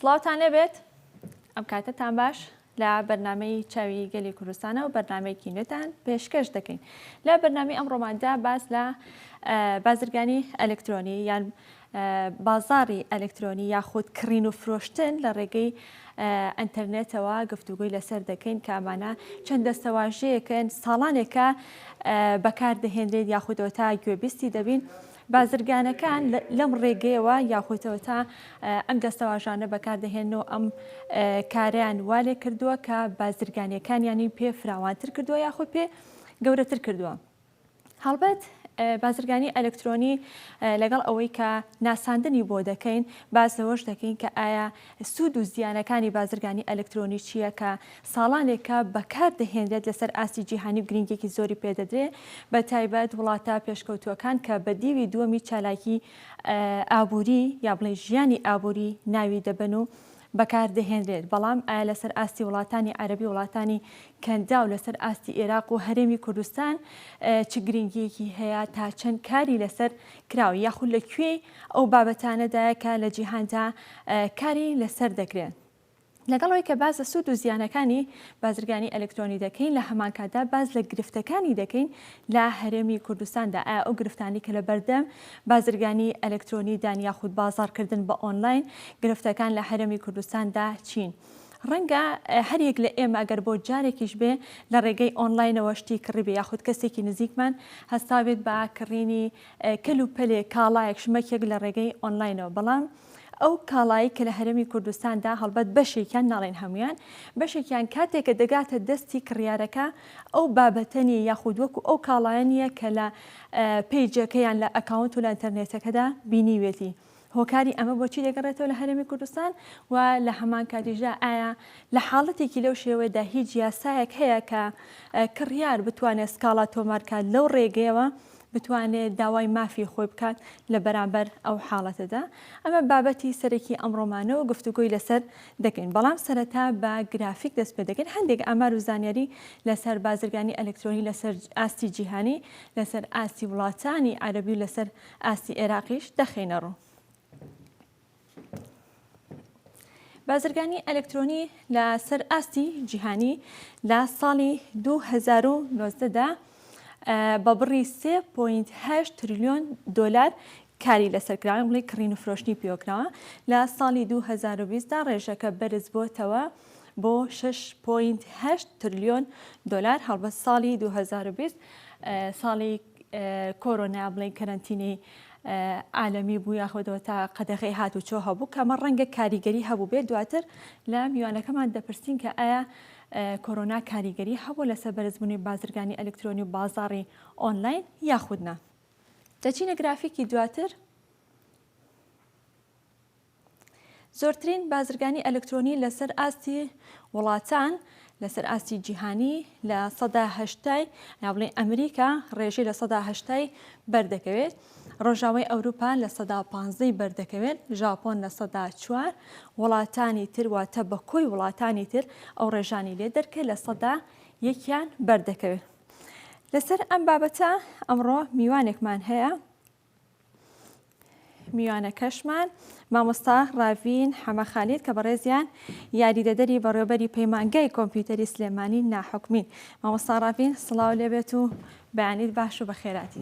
سڵاوتان لێبێت ئەم کاتەتان باش لە بەرنمەی چاوی گەلی کوردستانە و بەرنمەیەکی نوێتان پێشکەش دەکەین لە بەرنامی ئەم ڕۆماندا باز لە بازرگانی ئەلکترۆنی یان بازاڕی ئەلکترۆنی یاخود کڕین و فرۆشتن لە ڕێگەی ئەنتەرنێتەوە گفتوگۆی لەسەر دەکەین کە ئەمانە چەند دەستەواژەیەکن ساڵانێکە بەکاردەهێنرێت یاخودەوە تا گوێبیستی دەبین بازرگانەکان لەم ڕێگەیەوە یاخۆتەوە تا ئەم دەستەواژانە بەکاردەهێن و ئەم کاریان والێ کردووە کە بازرگانیەکان ینی پێ فراوانتر کردووە یاخود پێ گەورەتر کردووە. هەڵبەت بازرگانی ئەلکترۆنی لەگەڵ ئەوەی کە ناساندنی بۆ دەکەین باز لەوەش دەکەین کە ئایا سوود و زیانەکانی بازرگانی ئەلکترۆنی چییە کە ساڵانێکە بەکار دەهێنرێت لەسەر ئاستی جیهانی و گرنگێکی زۆری پێدەدرێ بە تایبەت وڵاتە پێشکەوتووەکان کە بە دیوی دووەمی چالاکی ئابووری یا بڵێ ژیانی ئابووری ناوی دەبەن و بەکاردەهێنرێت، بەڵام ئایا لەسەر ئاستی وڵاتانی عەرەبی وڵاتانی کەنداو لەسەر ئاستی ئێراق و هەرێمی کوردستان چ گرنگییەکی هەیە، تا چەند کاری لەسەر کراوە یاخود لە کوێی ئەو بابەتانەدایە کە لە جیهاندا کاری لەسەر دەکرێن؟ لەگەڵ ئەوەی کە باس لە سوود و زیانەکانی بازرگانی ئەلکترۆنی دەکەین لە هەمانکاتدا باس لە گرفتەکانی دەکەین لە هەرێمی کوردستاندا ئایا ئەو گرفتانەی کە لە بەردەم بازرگانی ئەلکترۆنی دان یاخود بازاڕکردن بە ئۆنلاین گرفتەکان لە هەرێمی کوردستاندا چین؟ ڕەنگە هەر یەک لە ئێمە گەر بۆ جارێکیش بێ لە ڕێگەی ئۆنلاینەوە شتی کڕیبێ یاخود کەسێکی نزیکمان هەستابێت بە کڕینی کەل و پەلێک کاڵایەک شمەکێک لە ڕێگەی ئۆنلاینەوە بەڵام ئەو کاڵایەی کە لە هەرێمی کوردستاندا، هەڵبەت بەشێکیان، ناڵێین هەموویان، بەشێکیان کاتێک کە دەگاتە دەستی کڕیارەکە ئەو بابەتە نییە یاخود وەکو ئەو کاڵایە نییە کە لە پەیجەکە یان لە ئەکاونت و لە ئینتەرنێتەکەدا بینیوێتی. هۆکاری ئەمە بۆچی دەگەڕێتەوە لە هەرێمی کوردستان و لە هەمان کاتیشدا ئایا لە حاڵەتێکی لەو شێوەیەدا هیچ یاسایەک هەیە کە کڕیار بتوانێت سکاڵا تۆمار کات لەو ڕێگەیەوە بتوانێت داوای مافی خۆی بکات لە بەرامبەر ئەو حاڵەتەدا ئەمە بابەتی سەرەکی ئەمڕۆمانەوە گفتوگۆی لەسەر دەکەین بەڵام سەرەتا بە گرافیک دەست پێ دەکەین هەندێک ئامار و زانیاری لەسەر بازرگانی ئەلکترۆنی لەسەر ئاستی جیهانی لەسەر ئاستی وڵاتانی عەرەبی و لەسەر ئاستی عێراقیش دەخینە ڕوو بازرگانی ئەلکترۆنی لە سەر ئاستی جیهانی لە ساڵی 2019 دا بە بڕی 3.8 تریلیۆن دۆلار کاری لەسەر کراوە بڵێ کڕین و فرۆشتنی پێوەکراوە لە ساڵی 2020 دا ڕێژەکە بەرز بۆتەوە بۆ 6.8 تریلیۆن دۆلار هەڵبەت ساڵی 2020 ساڵی کۆرۆنا یا بڵێین کەرەنتینەی عالەمی بوو یاخۆدەوە تا قەدەغی هات و چۆ هەبوو کەمە ڕەنگە کاریگەری هەبوو بێت دواتر لە میوانەکەمان دەپرسین کە ئایا کۆرۆنا کاریگەری هەبوو لەسەر بەرزبوونی بازرگانی ئەلکترۆنی و بازاڕی ئۆنلاین یاخودنا دەچینە گرافیکی دواتر زۆرترین بازرگانی ئەلکترۆنی لەسەر ئاستی وڵاتان لەسەر ئاستی جیهانی لە سەدا هەشتای یاڵێ ئەمریکا ڕێژی لە سەدا هەشتای بەردەکەوێت ڕۆژاوی ئەوروپا لە سەدا پانزەی بەردەکەوێت ژاپۆن لە سەدا چوار وڵاتانی تر واتە بە کۆی وڵاتانی تر ئەو ڕێژانی لێ دەرکە لە سەدا یەکیان بەردەکەوێت لەسەر ئەم بابەتە ئەمڕۆ میوانێکمان هەیە میوانەکەشمان مامۆستا ڕاڤین حەمە خالید کە بەڕێزیان یاریدەدەری بەڕێوبەری پەیمانگای کۆمپیوتەری سلێمانی ناحکمین مامۆستا ڕاڤین سڵاو لێبێت و بەیانیت باش و بەخێراتی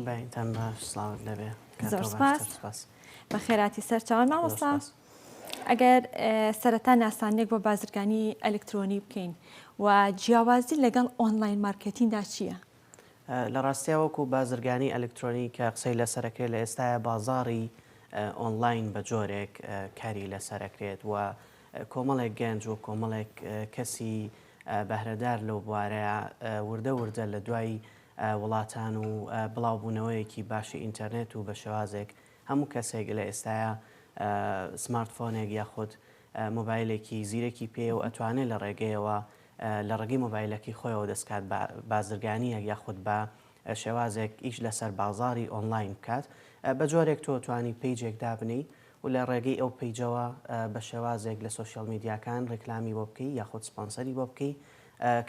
بە خێراتی سەر چاوان مامۆستا ئەگەر سەرەتا ناسانێک بۆ بازرگانی ئەلکترۆنی بکەین و جیاوازی لەگەڵ ئۆنلاین مارکتیندا چییە؟ لە ڕاستیا وەکو بازرگانی ئەلکترۆنی کە قسەی لەسەر ئەکرێت لە ئێستایا بازاڕی ئۆنلاین بە جۆرێک کاری لەسەر ئەکرێت و کۆمەڵێک گەنج و کۆمەڵێک کەسی بەهرەدار لەو بوارەیە وردە وردە لە دوای وڵاتان و بڵاوبوونەوەیەکی باشی ئینتەرنێت و بە شێوازێک هەموو کەسێک لە ئێستایا سمارتفۆنێک یاخود مۆبایلێکی زیرەکی پێیە و ئەتوانێت لە ڕێگەیەوە لە ڕێگەی مۆبایلەکەی خۆیەوە دەست کات بە بازرگانییەک یاخود بە شێوازێک ئیش لەسەر بازاڕی ئۆنلاین بکات بە جۆرێک تۆ توانی پەیجێک دابنێی و لە ڕێگەی ئەو پەیجەوە بە شێوازێک لە سۆشیال میدیاکان ڕیکلامی بۆ بکەی یاخود سپۆنسەری بۆ بکەی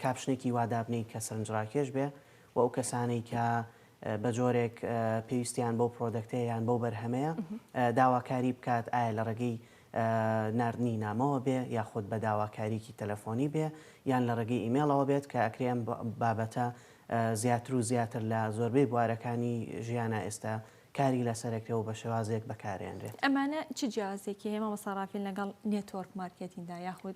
کاپشنێکی وا دابنێی کە سەرنجڕاکێش بێ و ئەو کەسانەی کە بە جۆرێک پێویستیان بەو پرۆدەکتەیە یان بەو بەرهەمەیە داواکاری بکات ئایا لە ڕێگەی ناردنی نامەوە بێ یاخود بە داواکاریکی تەلەفۆنی بێ یان لە ڕێگەی ئیمێڵەوە بێت کە ئەکرێ ئەم بابەتە زیاتر و زیاتر لە زۆربەی بوارەکانی ژیانا ئێستا کاری لەسەر ئەکرێ و بە شێوازێک بەکارێنرێت. ئەمانە چ جیاوازیەکی هەیە مامۆستا ڕافیل لەگەڵ نێتۆرک مارکێتیندا یاخود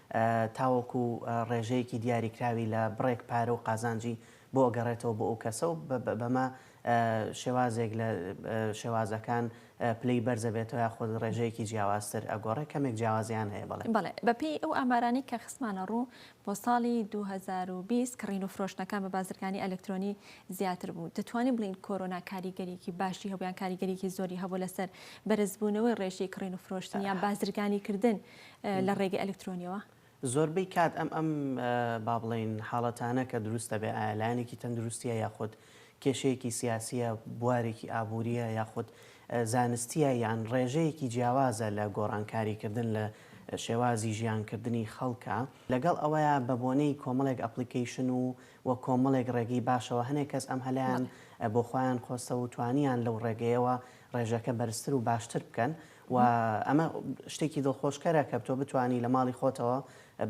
تاوەکو ڕێژەیەکی دیاریکراوی لە بڕێک پارە و قازانجی بۆ ئەگەڕێتەوە بۆ ئەو کەسە و بەمە شێوازێک لە شێوازەکان پلەی بەرز ئەبێتەوە یاخود ڕێژەیەکی جیاوازتر ئەگۆڕێ کەمێک جیاوازیان هەیە بەڵێ. بەڵێ بەپێی ئەو ئامارانەی کە خستمانە ڕوو بۆ ساڵی دوو هەزار و بیست کڕین و فرۆشتنەکان بە بازرگانی ئەلکترۆنی زیاتر بوو دەتوانین بڵێین کۆرۆنا کاریگەریی باشی هەبوو یان کاریگەریی زۆری هەبوو لەسەر بەرزبوونەوەی ڕێژەی کڕین و فرۆشتن یان بازرگانیکردن لە ڕێگەی ئەلکترۆنیەوە؟ زۆربەی کات ئەم ئەم با بڵێین حاڵەتانە کە دروست دەبێت ئایا لایەنێکی تەندروستیە یاخود کێشەیەکی سیاسیە بوارێکی ئابوووریە یاخود زانستیە یان ڕێژەیەکی جیاوازە لە گۆڕانکاریکردن لە شێوازی ژیانکردنی خەڵکە لەگەڵ ئەوەیە بە بۆنەی کۆمەڵێک ئەپلیکیشن و و کۆمەڵێک ڕێگەی باشەوە هەنێک کەس ئەم هەلیان بۆ خۆیان خۆستەوە و توانیان لەو ڕێگەیەوە ڕێژەکە بەرزتر و باشتر بکەن و ئەمە شتێکی دڵخۆشکەرە کە تۆ بتوانی لە ماڵی خۆتەوە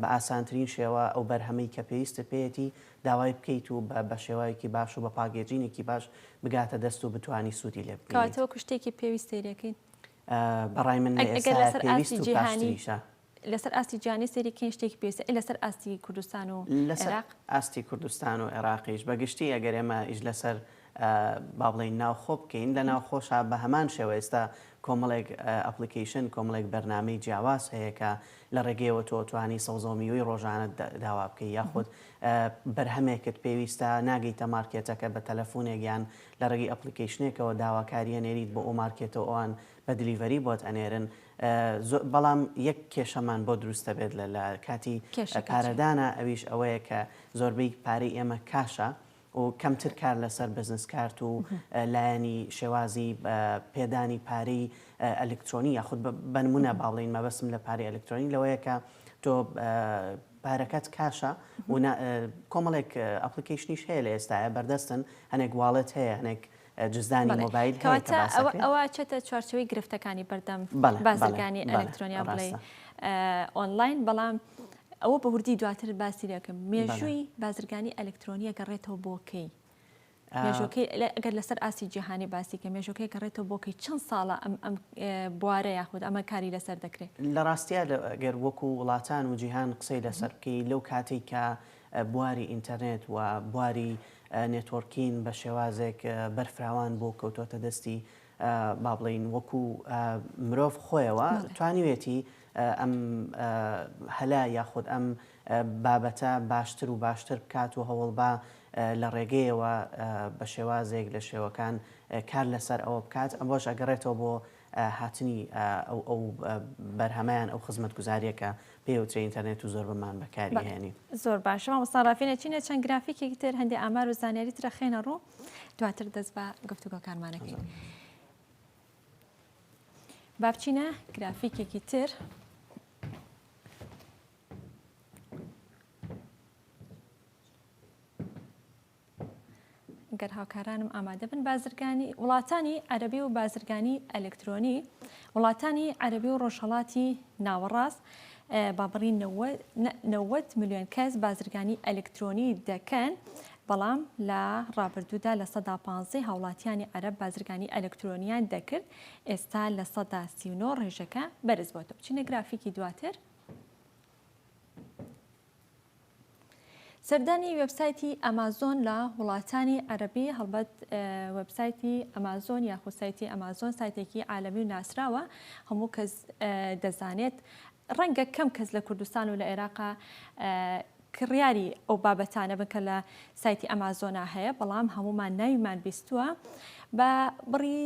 بە ئاسانترین شێوە ئەو بەرهەمەی کە پێویستت پێیەتی داوای بکەیت و بە شێوەیەکی باش و بە پاگێجینێکی باش بگاتە دەست و بتوانی سوودی لێ ببینیت. کەواتە وەکو شتێکی پێویست سەیرەکەین. بەڕای من لە ئێستا پێویست و پاشتریشە. لەسەر ئاستی جیهانی سەیری کەین شتێکی پێویستە ئەی لەسەر ئاستی کوردستان و عێراق؟ لەسەر ئاستی کوردستان و عێراقیش بە گشتی ئەگەر ئێمە ئیش لەسەر با بڵێین ناوخۆ بکەین لە ناوخۆشا بە هەمان شێوە ئێستا کۆمەڵێک ئەپڵیکەیشن کۆمەڵێک بەرنامەی جیاواز هەیە کە لە ڕێگەیەوە تۆ توانی سەوزە و میوەی ڕۆژانەت داوا بکەی یاخود بەرهەمێکت پێویستە ناگەیتە مارکێتەکە بە تەلەفونێک یان لە ڕێگەی ئەپڵیکەیشنێکەوە داواکارییە نێریت بۆ ئەو مارکێتە و ئەوان بە دلیڤەری بۆت ئەنێرن زۆر بەڵام یەک کێشەمان بۆ دروستە بێت لە لە کاتی کێشەکە چیە؟ پارەدانا ئەویش ئەوەیە کە زۆربەی پارەی ئێمە کاشە و کەمتر کار لەسەر بزنس کارت و لایەنی شێوازی پێدانی پارەی ئەلکترۆنی یاخود بە بەنمونە با بڵێین مەبەستم لە پارەی ئەلکترۆنی لەوەیە کە تۆ پارەکەت کاشە و کۆمەڵێک ئەپلیکەیشنیش هەیە لە ئێستاە بەردەستن هەنێک واڵێت هەیە هەنێک جزدانی مۆبایل هەیە کە باسەکەی. بەڵێ کەواتە ئەوە ئەچێتە چوارچێوەی گرفتەکانی بەردەم بازرگانی ئەلکترۆنیا بڵێی ئۆنڵاین بەڵام ئەوە بە وردی دواتر باسی لێکەم مێژووی بازرگانی ئەلکترۆنیە گەڕێتەوە بۆ کەی؟ مێژۆکەی ئەگەر لەسەر ئاسی جیهانی باسی کە مێژۆکەی گەڕێتەوە بۆکەی چەند ساڵە ئەم ئەم بوارە یاخود ئەمە کاری لەسەر دەکرێت لە ڕاستە گەر وەکو وڵاتان و جیهان قسەی لەسەر بکەی لەو کاتێک کە بواری ئینتەرنێت و بواری نێتۆرکین بە شێوازێک بەرفراوان بوو کەوتۆتە دەستی با بڵێین وەکو مرۆڤ خۆیەوە توانیوێتی ئەم هەلە یاخود ئەم بابەتە باشتر و باشتر بکات و هەوڵبا لە ڕێگەیەوە بە شێوازێک لە شێوەکان کار لەسەر ئەوە بکات ئەمەش ئەگەڕێتەوە بۆ هاتنی ئەو ئەو بەرهەمە یان ئەو خزمەتگوزاریە کە پێی ئەوترێ ئینتەرنێت و زۆر بەمان بەکاری ئەهێنین. زۆر باشە مامۆستا ڕافینە چینە چەند گرافیکێکی تر هەندێ ئامار و زانیاری ترە خێنە ڕوو دواتر دەست بە گفتوگۆکارمان ئەکەین. با بچینە گرافیکێکی تر. گەر هاوکارانم ئامادە بن بازرگانی وڵاتانی عەربی و بازرگانی ئەلکترۆنی وڵاتانی عەربی و ڕۆژهەڵاتی ناوەڕاست بابڕی 90 میلیۆن کەس بازرگانی ئەلکترۆنی دەکەن بەڵام لە ڕابردوودا لە سەدا پ هاوڵاتیانی عەرب بازرگانی ئەلکترۆنیان دەکرد ئێستا لە سەدا سیونۆ ڕێژەکە بەرز بۆتە بچینە گرافیکی دواتر سەردانی وێبسایتی ئەمازۆن لە وڵاتانی عەرەبی هەڵبەت وێبسایتی ئەمازۆن یاخود سایتی ئەمازۆن سایتێکی عالەمی و ناسراوە هەموو کەس دەزانێت ڕەنگە کەم کەس لە کوردستان و لە عێراقا کڕیاری ئەو بابەتانە بن کە لە سایتی ئەمازۆنا هەیە بەڵام هەمومان ناویمان بیستووە بە بڕی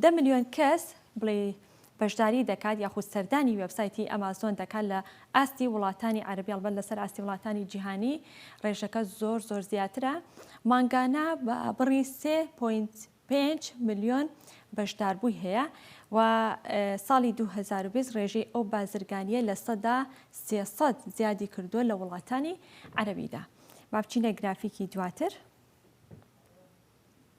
دە ملیۆن کەس بڵێی بەشداری دەکات یاخود سەردانی وێبسایتی ئەمازۆن دەکات لە ئاستی وڵاتانی عەرەبی ئەڵبەت لەسەر ئاستی وڵاتانی جیهانی ڕێژەکە زۆر زۆر زیاترە مانگانە بە بڕی 3.5 ملیۆن بەشداربووی هەیە و ساڵی 2020 ڕێژەی ئەو بازرگانیە لە سەدا 300 زیادی کردووە لە وڵاتانی عەرەبیدا با بچینە گرافیکی دواتر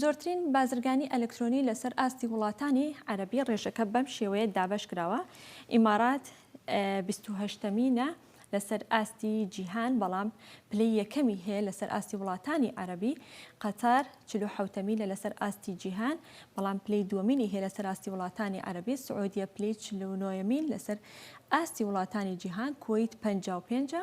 زۆرترین بازرگانی ئەلکترۆنی لەسەر ئاستی وڵاتانی عەرەبی ڕێژەکە بەم شێوەیە دابەش کراوە ئیمارات بیست و هەشتەمینە لەسەر ئاستی جیهان بەڵام پلەی یەکەمی هەیە لەسەر ئاستی وڵاتانی عەربی قەتار چلو حوتەمی لە لەسەر ئاستی جیهان بەڵام پلەی دووەمینی هەیە لەسەر ئاستی وڵاتانی عەربی سعودیە پلەی چلو نۆیەمین لەسەر ئاستی وڵاتانی جیهان کویت پەنجا و پێنجە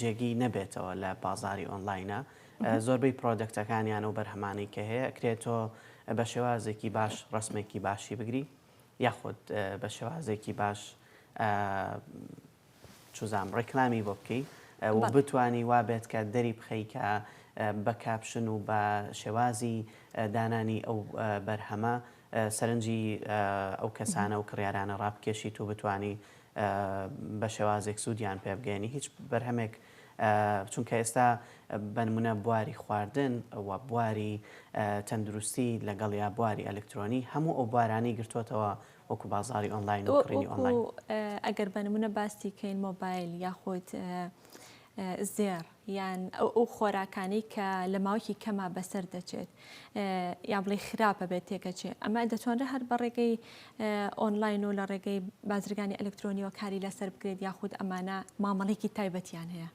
جێگی نەبێتەوە لە بازاری ئۆنلاینا زۆربەی پرۆدەکتەکانیان و بەرهەمانەی کە هەیە ئەکرێت تۆ بە شێوازێکی باش ڕسمێکی باشی بگری یاخود بە شێوازێکی باش چزام ڕێکلامی بۆ بکەی بتانی وا بێت کە دەری بخەیکە بە کاپشن و بە شێوازی دانانی ئەو بەرهەمە سەرنجی ئەو کەسانە و کڕیارانە ڕابکێشیت و بتانی بە شێوازێک سوودیان پێ بگەیەنی هیچ بەرهەمێک چونکە ئێستا بە نموونە بواری خواردن و بواری تەندروستی لەگەڵ یا بواری ئەلکترۆنی هەموو ئەو بوارانەی گرتووەتەوە وەکو بازاری ئۆنلاین و کڕینی ئۆنلاین ئەگەر بە نموونە باسی کەین مۆبایل یاخود زێڕ یان ئەو خۆراکانەی کە لە ماوەکی کەما بەسەر دەچێت یا بڵێ خراپە بێت تێکەچێ ئەمە دەتوانرە هەر بە ڕێگەی ئۆنلاین و لە ڕێگەی بازرگانی ئەلکترۆنیەوە کاری لەسەر بکرێت یاخود ئەمانە مامەڵێکی تایبەتیان هەیە.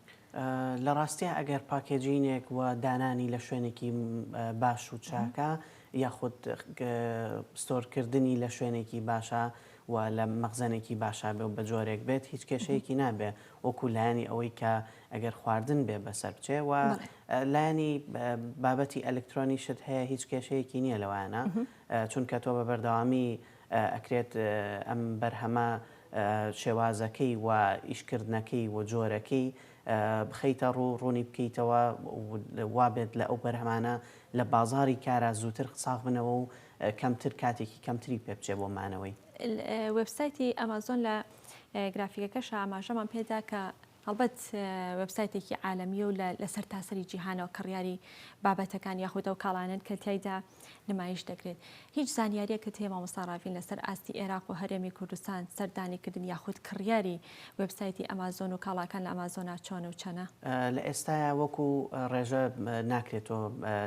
لە ڕاستیا ئەگەر پاکێجینێک و دانانی لە شوێنێکی باش و چاکە یاخود ستۆرکردنی لە شوێنێکی باشە و لە مەخزەنێکی باشا بێ و بە جۆرێک بێت هیچ کێشەیەکی نابێ وەکو لایەنی ئەوەی کە ئەگەر خواردن بێ بەسەر بچێ و لایەنی بابەتی ئەلکترۆنیشت هەیە هیچ کێشەیەکی نییە لەوانە چونکە تۆ بە بەردەوامی ئەکرێت ئەم بەرهەمە شێوازەکەی و ئیشکردنەکەی و جۆرەکەی بخەیتە ڕوو ڕوونی بکەیتەوە وابێت لە ئەو بەرهەمانە لە بازاری کارا زووتر ساغ بنەوە و کەمتر کاتێکی کەمتری پێ بچێ بۆ مانەوەی. وێبسایتی ئەمازۆن لە گرافیکەکەشا ئاماژەمان پێدا کە هەڵبەت وێبسایتێکی عالەمیە و لە سەر تاسەری جیهانەوە کڕیاری بابەتەکان یاخود ئەو کاڵانن کە تایدا نمایش دەکرێت هیچ زانیاریە کە تێ مامۆستا ڕاڤین لەسەر ئاستی عێراق و هەرێمی کوردستان سەردانی کردن یاخود کڕیاری وێبسایتی ئەمازۆن و کاڵاکان لە ئەمازۆنا چۆن و چەنە؟ لە ئێستایا وەکو ڕێژە ناکرێت تۆ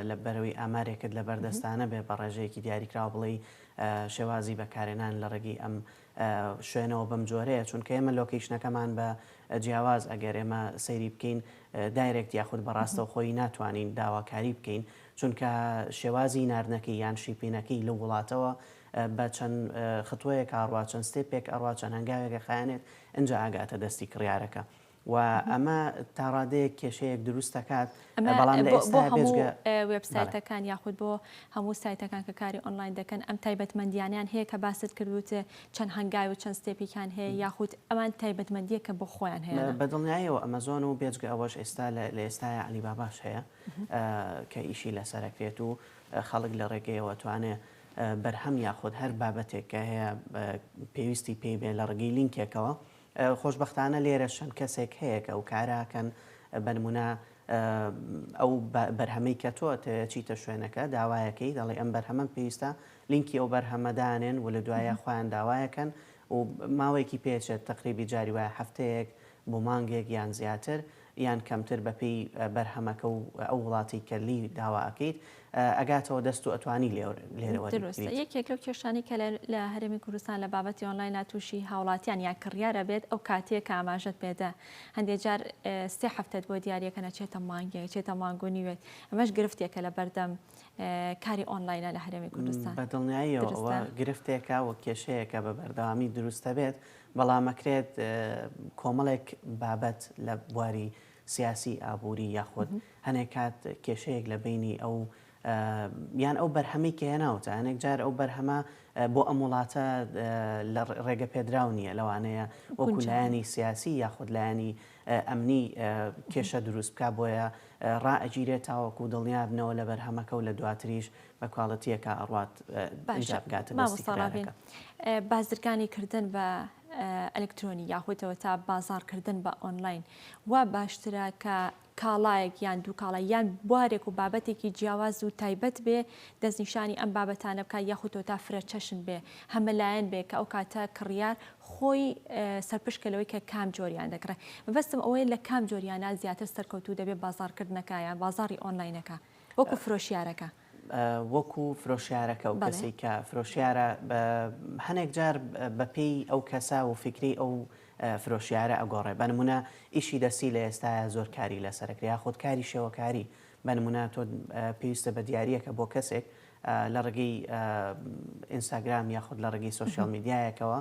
لە بەرەوی ئامارێکت لە بەردەستانە بێ بە ڕێژەیەکی دیاریکراو بڵێی شێوازی بەکارێنان لە ڕێگەی ئەم شوێنەوە بەم جۆرەیە چونکە ئێمە لۆکەیشنەکەمان بە جیاواز ئەگەر ئێمە سەیری بکەین دایرێکت یاخود بەڕاستەو خۆی ناتوانین داواکاری بکەین چونکە شێوازی ناردنەکەی یان شیپینەکەی لە وڵاتەوە بە چەند ختوەیەک ئاڕوا چەند ستێپێک ئەڕوا چەند هەنگاوێک ئەخایەنێت ئنجا ئەگاتە دەستی کڕیارەکە و ئەمە تاڕادەیەک کێشەیەک دروست دەکات بەڵام ئێستا بێژگە وێبسایتەکان یاخود بۆ هەموو سایتەکان کە کاری ئۆنلاین دەکەن ئەم تایبەتمەندیانیان هەیە کە باست کردوت چەند هەنگاوی و چەند ستێپیکان هەیە یاخود ئەمان تایبەتمەندیە کە بۆ خۆیان هەیە بەدڵنیایەوە ئەمەزۆن و بێجگە ئەوەش ئێستا لە ئێستا علی باباش هەیە کە ئیشی لەسەرەکرێت و خەڵک لە ڕێگەیەوە توانێت بەرهەم یاخود هەر بابەتێک کە هەیە پێویستی پێی بێ لە ڕگەی لینکێکەوە خۆشبەختانە لێرە چەند کەسێک هەیە کە ئەو کارە ئەکەن بە نمونە ئەو بەرهەمەی کە تۆ ئەتەوێت چیتە شوێنەکە داوایەکەی دەڵێ ئەم بەرهەمەم پێویستە لینکی ئەو بەرهەمە دانێن و لە دوایە خۆیان داوایەکەن و ماوەیەکی پێچێت تقریبی جاری وایە هەفتەیەک بۆ مانگێک یان زیاتر یان کەمتر بەپێی بەرهەمەکە و ئەو وڵاتەی کە لێی داوا ئەکەیت ئەگاتەوە دەست و ئەتوانی لێرەوە دروستە یەکێک لەو کێشانی کە لە هەرێمی کوردستان لە بابەتی ئۆنلاینە تووشی هاوڵاتیان یا کڕیارە بێت ئەو کاتەیە کە ئاماژەت پێدا هەندێک جار سێ هەفتەت بۆ دیارەکە نەچێتە مانگێک چێتە مانگ و نیوێت ئەمەش گرفتێکە لە بەردەم کاری ئۆنلاینە لە هەرێمی کوردستان بە دڵنیاییەوە گرفتێکە و کێشەیەکە بە بەردەوامی دروستە بێت بەڵام ئەکرێت کۆمەڵێک بابەت لە بواری سیاسی، ئابووری یاخود هەنێک کات کێشەیەک لە بەینی ئەو یان ئەو بەرهەمەی کە هێناوتە هەنێک جار ئەو بەرهەمە بۆ ئەم وڵاتە لە ڕێگە پێدراو نییە لەوانەیە وەکو لایەنی سیاسی یاخود لایەنی ئەمنی کێشە دروست بکە بۆیە ڕائەگیرێت تاوەکو دڵنیابنەوە لە بەرهەمەکە و لە دواتریش بە کوالێتیەکا ئەڕوات ئینجا بگاتە دەستی کرێکارەکە. بازرگانی کردن بە ئەلکترۆنی یاخۆیتەوە تا بازار کردن بە ئۆنلاین وا باشترە کە کاڵایەک یان دوو کاڵا یان بوارێک و بابەتێکی جیاواز و تایبەت بێ دەستنیشانی ئەم بابەتانە بکە یاخوتەوە تا فرە چەشن بێ هەمەلایەن بێ کە ئەو کاتە کڕیار خۆی سەرپشکەلەوەی کە کام جۆریان دەکڕێ بەستم ئەوەیە لە کام جۆریانە زیاتر سەرکەوتو دەبێت بازارکردنەکەیان بازاری ئۆنلاینەکە وەکو فرۆشیارەکە. وەکو فرۆشیارەکە و کەسێک کە فرۆشیارە هەنێک جار بە پێی ئەو کەسە و فیکری ئەو فرۆشیارە ئەگۆڕێ بە نمونە ئیشی دەستی لە ئێستاە زۆر کاری لەسەر کرێ یاخود کاری شێوەکاری بە نمونە تۆ پێویستە بە دیارریەکە بۆ کەسێک لە ڕگەی ئینستاگرام یاخود لە ڕگەی سوسیال میدیایەکەوە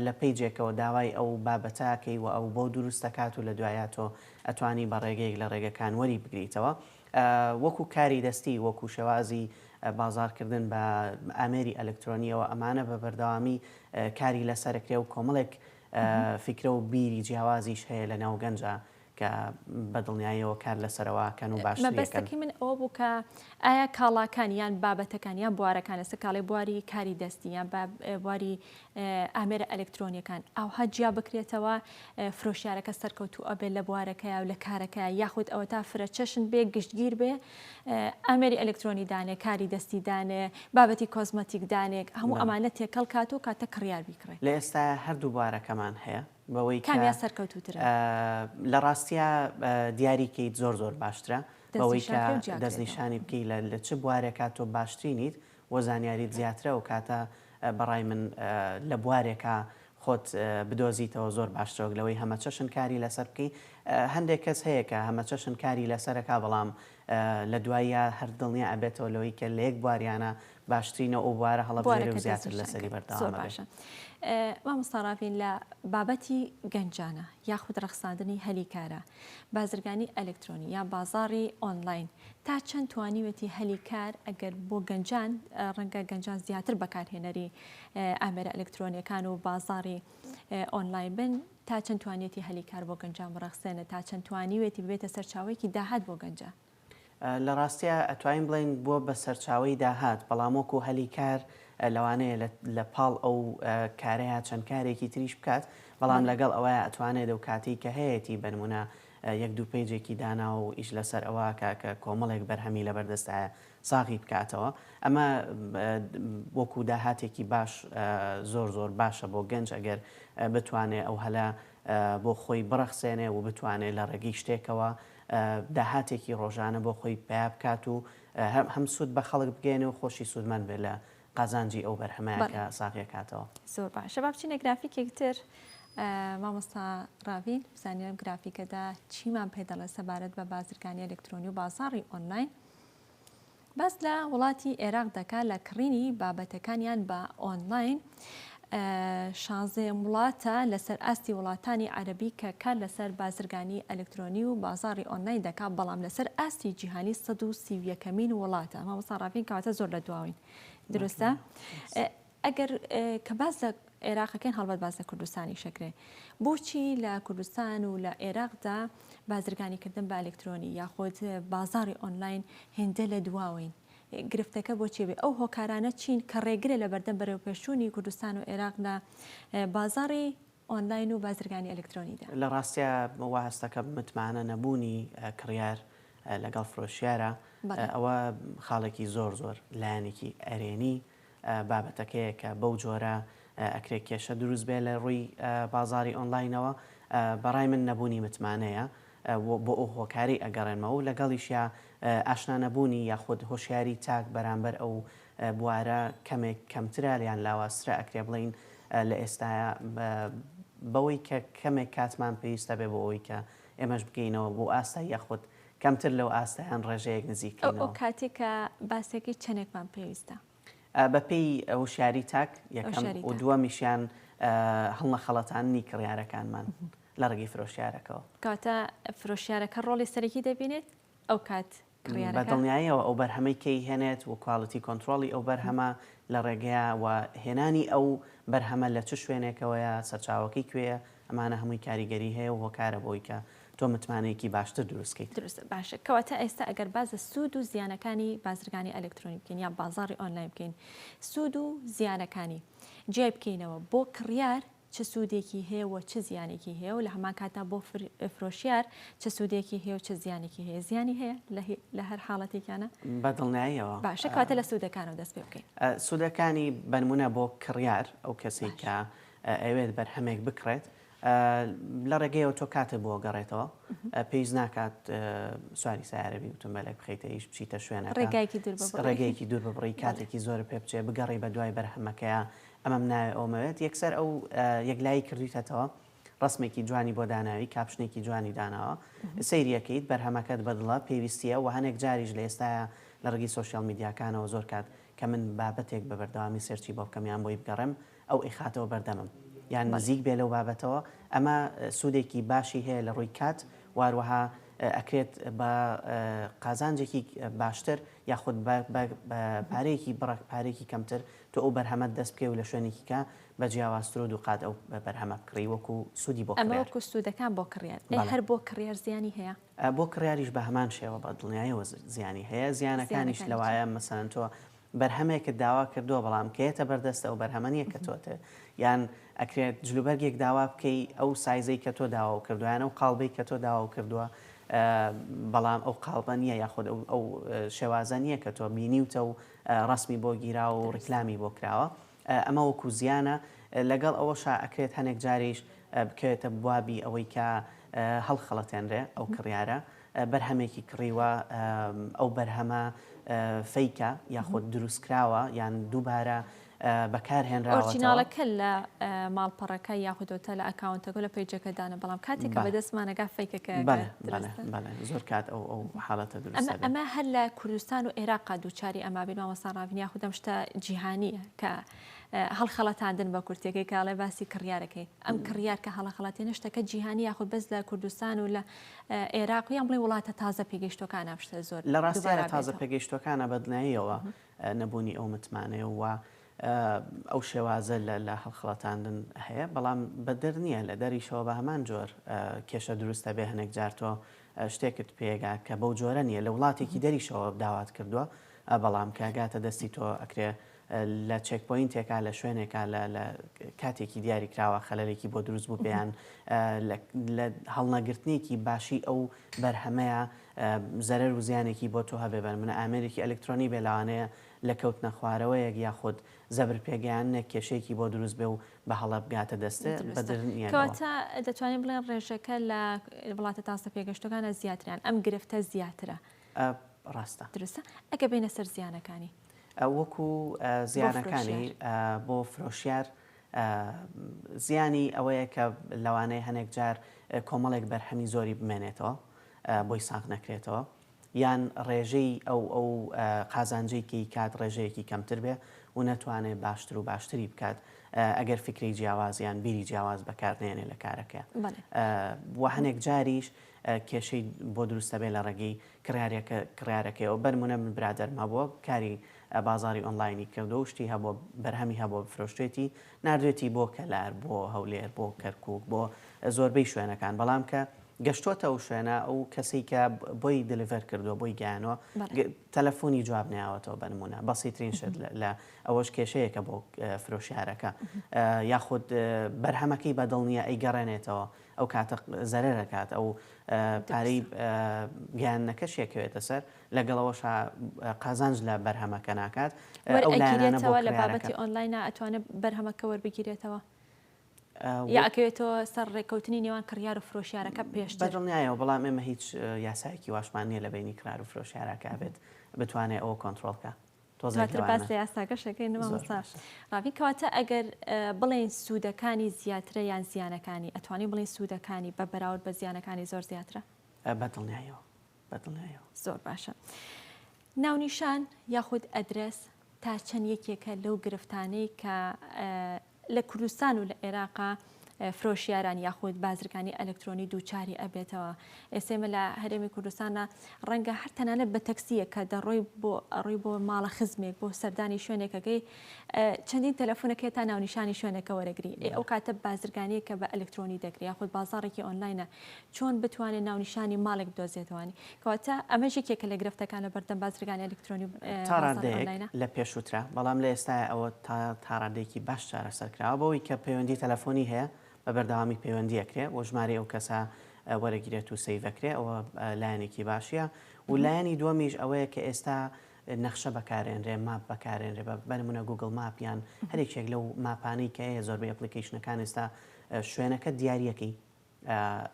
لە پیجێکەوە داوای ئەو بابەتاکەی و ئەو بۆ دروستەکات و لە دوایە تۆ ئەتوانی بە ڕێگەیەک لە ڕێگەکان وەری بگریتەوە وەکو کاری دەستی، وەکو شێوازی بازاڕکردن بە ئامێری ئەلکترۆنییەوە، ئەمانە بە بەردەوامی کاری لەسەر ئەکرێ و کۆمەڵێک فیکرە و بیری جیاوازیش هەیە لە ناو گەنجا کە بە دڵنیاییەوە کار لەسەرەوە ئەکەن و باشتری ئەکەن. مەبەستەکەی من ئەوە بوو کە ئایا کاڵاکان یان بابەتەکان یان بوارەکان لەسەر کاڵی بواری کاری دەستی یان بواری ئامێرە ئەلکترۆنیەکان ئاوها جیا بکرێتەوە فرۆشیارەکە سەرکەوتو ئەبێ لە بوارەکەیا و لە کارەکە یاخود ئەوە تا فرە چەشن بێ گشتگیر بێ ئامێری ئەلکترۆنی دانێ کاری دەستی دانێ بابەتی کۆزمەتیک دانێک هەموو ئەمانە تێکەڵ کات و کاتە کڕیار بیکڕێ لە ئێستایا هەردوو بوارەکەمان هەیە بەوەی کامیا سەرکەوتوترە لە ڕاستیا دیاری کەیت زۆر زۆر باشترە بەوەی کە دەستنیشانی بکەی لە چ بوارێکا تۆ باشترینیت بۆ زانیاریت زیاتر ئەو کاتە بەڕای من لە بوارێکا خۆت بدۆزیتەوە زۆر باشترەوەک لەوەی هەمەچەشن کاری لەسەر بکەی هەندێک کەس هەیە کە هەمەچەشن کاری لەسەرەکا بەڵام لە دواییا هەر دڵنیا ئەبێتەوە لەوەی کە لە یەک بواریانە باشترینە ئەو بوارە هەڵەبژێرێ و زیاتر لەسەری بەردەوام بێ. مامۆستا ڕاڤین لە بابەتی گەنجانە یاخود ڕەخساندنی هەلی کارە بازرگانی ئەلکترۆنی یا بازاڕی ئۆنلاین تا چەند توانیوێتی هەلی کار ئەگەر بۆ گەنجان ڕەنگە گەنجان زیاتر بەکارهێنەری ئامێرە ئەلکترۆنیەکان و بازاڕی ئۆنلاین بن تا چەند توانیەتی هەلی کار بۆ گەنجان بڕەخسێنە تا چەند توانیوێتی ببێتە سەرچاوێکی داهات بۆ گەنجان. لە ڕاستیا ئەتوانین بڵێین بووە بە سەرچاوەی داهات، بەڵام وەکو هەلی کار لەوانەیە لە لە پاڵ ئەو کارەیا چەند کارێکی تریش بکات، بەڵام لەگەڵ ئەوەیا ئەتوانێت لەو کاتەی کە هەیەتی بە نموونە یەک دوو پەیجێکی داناوە و ئیش لەسەر ئەوە ئەکا کە کۆمەڵێک بەرهەمی لەبەر دەستایە ساغی بکاتەوە. ئەمە وەکو داهاتێکی باش زۆر زۆر باشە بۆ گەنج ئەگەر بتوانێ ئەو هەلە بۆ خۆی بڕەخسێنێ و بتوانێ لە ڕێگەی شتێکەوە داهاتێکی ڕۆژانە بۆ خۆی پەیا بکات و هەم سوود بە خەڵک بگەیەنێ و خۆشی سوودمەند بێت لە قازانجی ئەو بەرهەمە کە ساغی ئەکاتەوە. زۆر باشە با بچینە گرافیکێک تر، مامۆستا ڕاڤین بزانین لەم گرافیکەدا چیمان پێ دەڵێت سەبارەت بە بازرگانی ئەلکترۆنی و بازاڕی ئۆنلاین. باس لە وڵاتی ئێراق دەکات لە کڕینی بابەتەکانیان بە ئۆنلاین شانزەیەم وڵاتە لەسەر ئاستی وڵاتانی عەربی کە کار لەسەر بازرگانی ئەلکترۆنی و بازاری ئۆنلاین دەکات بەڵام لەسەر ئاستی جیهانی 131مین وڵاتە مامۆستا ڕاڤین کەواتە زۆر لە دواوین دروستە ئەگەر کە باس لە عێراق ئەکەین هەڵبەت باس لە کوردستانیش ئەکرێ. بۆچی لە کوردستان و لە عێراقدا بازرگانیکردن بە ئەلکترۆنی یاخود بازاڕی ئۆنلاین هێندە لە دواوەین؟ گرفتەکە بۆچی بێ؟ ئەو هۆکارانە چین کە ڕێگرە لە بەردەم بەرەوپێشچوونی کوردستان و عێراق لە بازاڕی ئۆنلاین و بازرگانی ئەلکترۆنیدا؟ لە ڕاستیا وا هەست دەکەم متمانە نەبوونی کڕیار لەگەڵ فرۆشیارە، ئەوە خاڵێکی زۆر زۆر لایەنێکی ئەرێنی بابەتەکەیە کە بەو جۆرە ئەکرێ کێشە دروست بێ لە ڕووی بازاڕی ئۆنلاینەوە بەڕای من نەبوونی متمانەیە بۆ ئەو هۆکارەی ئەگەڕێنمەوە و لەگەڵیشیا ئاشنا نەبوونی یاخود هۆشیاری تاک بەرامبەر ئەو بوارە کەمێک کەمترە یان لاوازترە ئەکرێ بڵێین لە ئێستایا بەوەی کە کەمێک کاتمان پێویستە بێ بۆ ئەوەی کە ئێمەش بگەینەوە بۆ ئاستای یاخود کەمتر لەو ئاستە یان ڕێژەیەک نزیکەینەوە. ئەو کاتەی کە باسێکی چەندێکمان پێویستە؟ بە پێی وشیاری تاک یەکەم و دووەمیشیان هەڵنەخەڵەتاندنی کڕیارەکانمان لە ڕێگەی فرۆشیارەکەوە. کاتە فرۆشیارەکە ڕۆڵی سەرەکی دەبینێت ئەو کات بە دڵنیاییەوە ئەو بەرهەمەی کەی هێنێت و کوالیتی کۆنتترۆڵی ئەو بەرهەمە لە ڕێگەیە و هێنانی ئەو بەرهەمە لە چ شوێنێکەوەیە سەرچاوەکەی کوێیە ئەمانە هەمووی کاریگەری هەیە و هۆکارە بۆی کە تۆ متمانەیەکی باشتر دروست کەیت. دروستە باشە کەواتە ئێستا ئەگەر باس لە سوود و زیانەکانی بازرگانی ئەلەکترۆنی بکەین یان بازاڕی ئۆنلاین بکەین سوود و زیانەکانی جیای بکەینەوە بۆ کڕیار چ سوودێکی هەیە و چ زیانێکی هەیە و لە هەمان کاتدا بۆ فرۆشیار چ سوودێکی هەیە و چ زیانێکی هەیە زیانی هەیە لە هەر حاڵەتێکیانە بە دڵنیاییەوە باشە کەواتە لە سوودەکانەوە دەست پێ بکەین سوودەکانی بە نموونە بۆ کڕیار ئەو کەسێک کە ئەیەوێت بەرهەمێک بکڕێت لە ڕێگەیەوە تۆ کاتێک بۆ گەڕێتەوە پێویست ناکات سواری سارەبی وتمبەلێک بخیتە ئیش بچیتە شوێنە ڕێگەیەکی دوور ببڕی کاتێکی زۆر پێ بچێ بگەڕی بە دوای بەرهەمەکەیە ئەمەم ناوێ ئەومەوێت یەکسەر ئەو یەکلایی کردویتەتەوە ڕسمێکی جوانی بۆ داناوی کاپشنێکی جوانی داناوە سریەکەیت بەرهەمەکەت بەدڵە پێویستیە و هەنێک جاریش لە ئێستاە لە ڕگی سوسیال میدیاکانەوە زۆر کات کە من بابەتێک بە بەردەوامی سەرچی بۆ بکەم یان بۆی بگەڕێم ئەو ئەیخاتەوە بەردەمم یان نزیک بێ لەو بابەتەوە ئەمە سودێکی باشی هەیە لە ڕووی کات واروەها ئەکرێت بە قازانجێکی باشتر یاخود پارەیەکی بڕەک پارێکی کەمتر تۆ ئەو بەرهەمەت دەست بکەی و لە شوێنێکی کە بە جیاوازتر و دووقات ئەو بەرهەمە بکڕی وەکو سوودی بۆ ئەمەوەکو سوودەکان بۆ کڕیار هەر بۆ کڕیار زیانی هەیە بۆ کڕیاریش بە هەمان شێوە بە دڵنیایەوە زیانی هەیە زیانەکانیش لەوایە مەسەن تۆ بەرهەمێکت داوا کردووە بەڵام کە یەتە بەر دەستت ئەو بەرهەمە نیە کە تۆت یان ئەکرێت جل و بەرگێک داوا بکەی ئەو سایزەی کە تۆ داوا و کردووە یان ئەو قاڵبەی کە تۆ داوا و کردووە بەڵام ئەو قاڵبە نیە یاخود ئەو شێوازە نیە کە تۆ بینیوتە و ڕسمی بۆ گیراوە و ڕیکلامی بۆ کراوە ئەمە وەکو زیانە لەگەڵ ئەوەشا ئەکرێت هەنێک جاریش بکەوێتە بوابی ئەوەی کە هەڵخەڵەتێنرێ ئەو کڕیارە بەرهەمێکی کڕیوە ئەو بەرهەمە فەیکە یاخود دروستکراوە یان دووبارە بەکارهێنراوە ئۆرجیناڵەکە لە ماڵپەڕەکە یاخودۆتە لە ئەکاونتەکە لە پیجەکەدانە بەڵام کاتێکە بە دەستمانەگا فیکەکە زۆر کات ئەو ئەو حاڵەتە ئەمە هەر لە کوردستان و عێراق دووچاری ئەما بین مامەسان ڕاوین یاخودەم شتە جیهانیە کە هەڵخەڵەتاندن بە کورتێکی کاڵێ باسی کڕیارەکەی ئەم کڕیار کە هەڵەخەڵەتی نشتەکە جیهانی یاخود بەس لە کوردستان و لە عێراق یان بڵێین وڵاتە تازە پێگەیشتووەکان ئەم شتە زۆر دووبارە بێتەوە؟ لە ڕاستی ئەرا تازە پێگەیشتووەکانە بەدناییەوە نەبوونی ئەو متمانەیە و ئەو شێوازە لە هەڵخڵەتاندن هەیە بەڵام بەدەر نییە لە دەریشەوە بە هەمان جۆر کێشە دروست ئەبێ هەنێک جار تۆ شتێکت پێگا کە بەو جۆرە نییە لە وڵاتێکی دەریشەوە داوات کردووە بەڵام کە گاتە دەستی تۆ ئەکرێ لە چێکپۆینتێکا لە شوێنێکا لە لە کاتێکی دیاری کراوە خەلەلێکی بۆ دروست بوو پێیان لە هەڵنەگرتنێکی باشی ئەو بەرهەمەیە زەرەر و زیانێکی بۆ تۆ هەبێ بەر منە ئامێرێکی ئەلکترۆنی بێ لەوانەیە لە کەوتنە خوارەوەیەک یاخود زەبر پێگەیاندنێک کێشەیەکی بۆ دروست بێ و بە هەڵە بگاتە دەستێ کەواتە دەتوانین بڵێن ڕێژەکە لە وڵاتە تازە پێگەشتەکانە زیاتریان ئەم گرفتە زیاترە ڕاستە درستە ئەگە بینە سەر زیانەکانی ئەو وەکو زیانەکانی بۆ فرۆشیار زیانی ئەوەیە کە لەوانەیە هەنێک جار کۆمەڵێک بەرهەمی زۆری بمێنێتەوە بۆی ساغ نەکرێتەوە یان ڕێژەی ئەو ئەو قازانجەی کەی کات ڕێژەیەکی کەمتر بێ و نەتوانێت باشتر و باشتری بکات ئەگەر فکری جیاوازیان بیری جیاواز بەکارنێنێ لە کارەکە و هەنێک جاریش کێشەی بۆ دروست دەبێت لە ڕێگەی کڕیارێکە کڕیارەکەیەوە بەر مونە من برادەرم هەبووە کاری بازاری ئۆنڵاینی کردووە و شتی هەبووە بەرهەمی هەبووە بفرۆشتێتی ناردوێتی بۆ کەلار بۆ هەولێر بۆ کەرکووک بۆ زۆربەی شوێنەکان بەڵام کە گەشتۆتە ئەو شوێنە ئەو کەسەی کە بۆی دلیڤەر کردووە بۆی گیانەوە بەڵێ تەلەفۆنی جواب نەیاوەتەوە بە نموونە بەسیترین شت لە لە ئەوەش کێشەیەکە بۆ فرۆشیارەکە ە یاخود بەرهەمەکەی بەدڵ نییە ئەیگەڕێنێتەوە ئەو کاتە زەرەر ئەکات ئەو پارەی گەیاندنەکەش یەکەوێتە سەر لەگەڵ ئەوەشا قازانج لە بەرهەمەکە ناکات ئەو لایەنانەوە لە بابەتی ئۆنلاینا ئەتوانێت بەرهەمەکە وەربگیرێتەوە یاکەوێتەوە سەر ڕێککەوتنی نێوان کڕیار و فرۆشیارەکە پێش بەدڵنیایەوە بەڵام ئێمە هیچ یاسایەکی واشمان نییە لە بینی کرار و فرۆشیارەکە بێت بتوانێت ئەوە کۆنتترۆلکە دواتر باس لە یاساکەش ئەکەین مامۆستا ڕاڤین کەواتە ئەگەر بڵێین سوودەکانی زیاترە یان زیانەکانی ئەتوانین بڵێین سوودەکانی بە بەراورد بە زیانەکانی زۆر زیاترە بەدڵنیایەوە بەدڵنیایەوە زۆر باشە ناونیشان یاخود ئەدرس تا چەند یەکێکە لەو گرفتانەی کە لە کوردستان و لە عێراقا فرۆشیاران یاخود بازرگانی ئەلکترۆنی دووچاری ئەبێتەوە ئێسێ مە لە هەرێمی کوردستانە ڕەنگە هەر تەنانەت بە تەکسیە کە دەڕۆی بۆ ئەڕۆی بۆ ماڵە خزمێک بۆ سەردانی شوێنێکەکەی چەندین تەلەفۆنەکە تا ناونیشانی شوێنەکە وەرەگری ئەو کاتە بازرگانیە کە بە ئەلکترۆنی دەکری یاخود بازارێکی ئۆنلاینە چۆن بتوانێت ناونیشانی ماڵێک بدۆزێتەوەنی کەواتە ئەمەش یەکێکە لە گرفتەکان لە بەردەم بازرگانی ئەلکترۆنی و تا ڕادەیەک لە پێشووترە بەڵام لە ئێستای ئەوە تا تا ڕادێکی باش چارەسەر کراوە بەوەی کە پەیوەندی تەلەفۆنی هەیە بە بەردەوامی پەیوەندی ئەکرێ و ژمارەی ئەو کەسە وەرەگیرێت و سەیڤ ئەکرێ ئەوە لایەنێکی باشیە و لایەنی دووەمیش ئەوەیە کە ئێستا نەخشە بەکارێنرێ ماپ بەکارێنرێ بە بەنمونە گوگل ماپ یان هەرێکێک لەو ماپانەی کە هەیە زۆربەی ئەپلیکیشنەکان ئێستا شوێنەکە دیارەکەی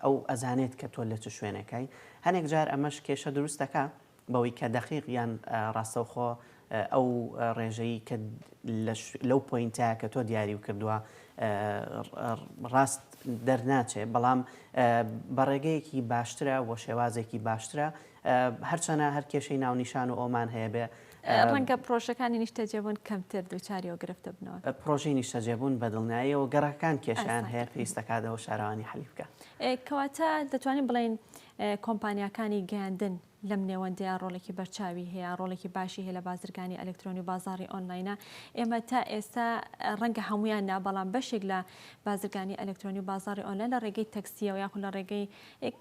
ئەو ئەزانێت کە تۆ لە چ شوێنێکای. هەنێک جار ئەمەش کێشە دروست دەکا بەوەی کە دەقیق یان ڕاستەوخۆ ئەو ڕێژەی کە لەو پۆینتە کە تۆ دیاری و کردووە ڕاست دەرناچێ بەڵام بە ڕێگەیەکی باشترە بۆ شێوازێکی باشترە هەرچەنە هەر کێشەی ناونیشان و ئۆمان هەیە بێ ڕەنگە پڕۆژەکانی نیشتەجێبوون کەمتر دووچاری ئەو گرفتە بنەوە. پڕۆژەی نیشتەجێبوون بە دڵنیاییەوە گەڕەکەکان کێشەیان هەیە، پێویست دەکات ئەوە شارەوانی حەلی بکات. کەواتە دەتوانین بڵێین کۆمپانیاکانی گەیاندن لەم نێوەندەیە ڕۆڵێکی بەرچاوی هەیە، ڕۆڵێکی باشی هەیە لە بازرگانی ئەلکترۆنی و بازاڕی ئۆنلاینە. ئێمە تا ئێستا ڕەنگە هەمویان نا، بەڵام بەشێک لە بازرگانی ئەلکترۆنی و بازاڕی ئۆنلاین لە ڕێگەی تەکسیەوە یاخود لە ڕێگەی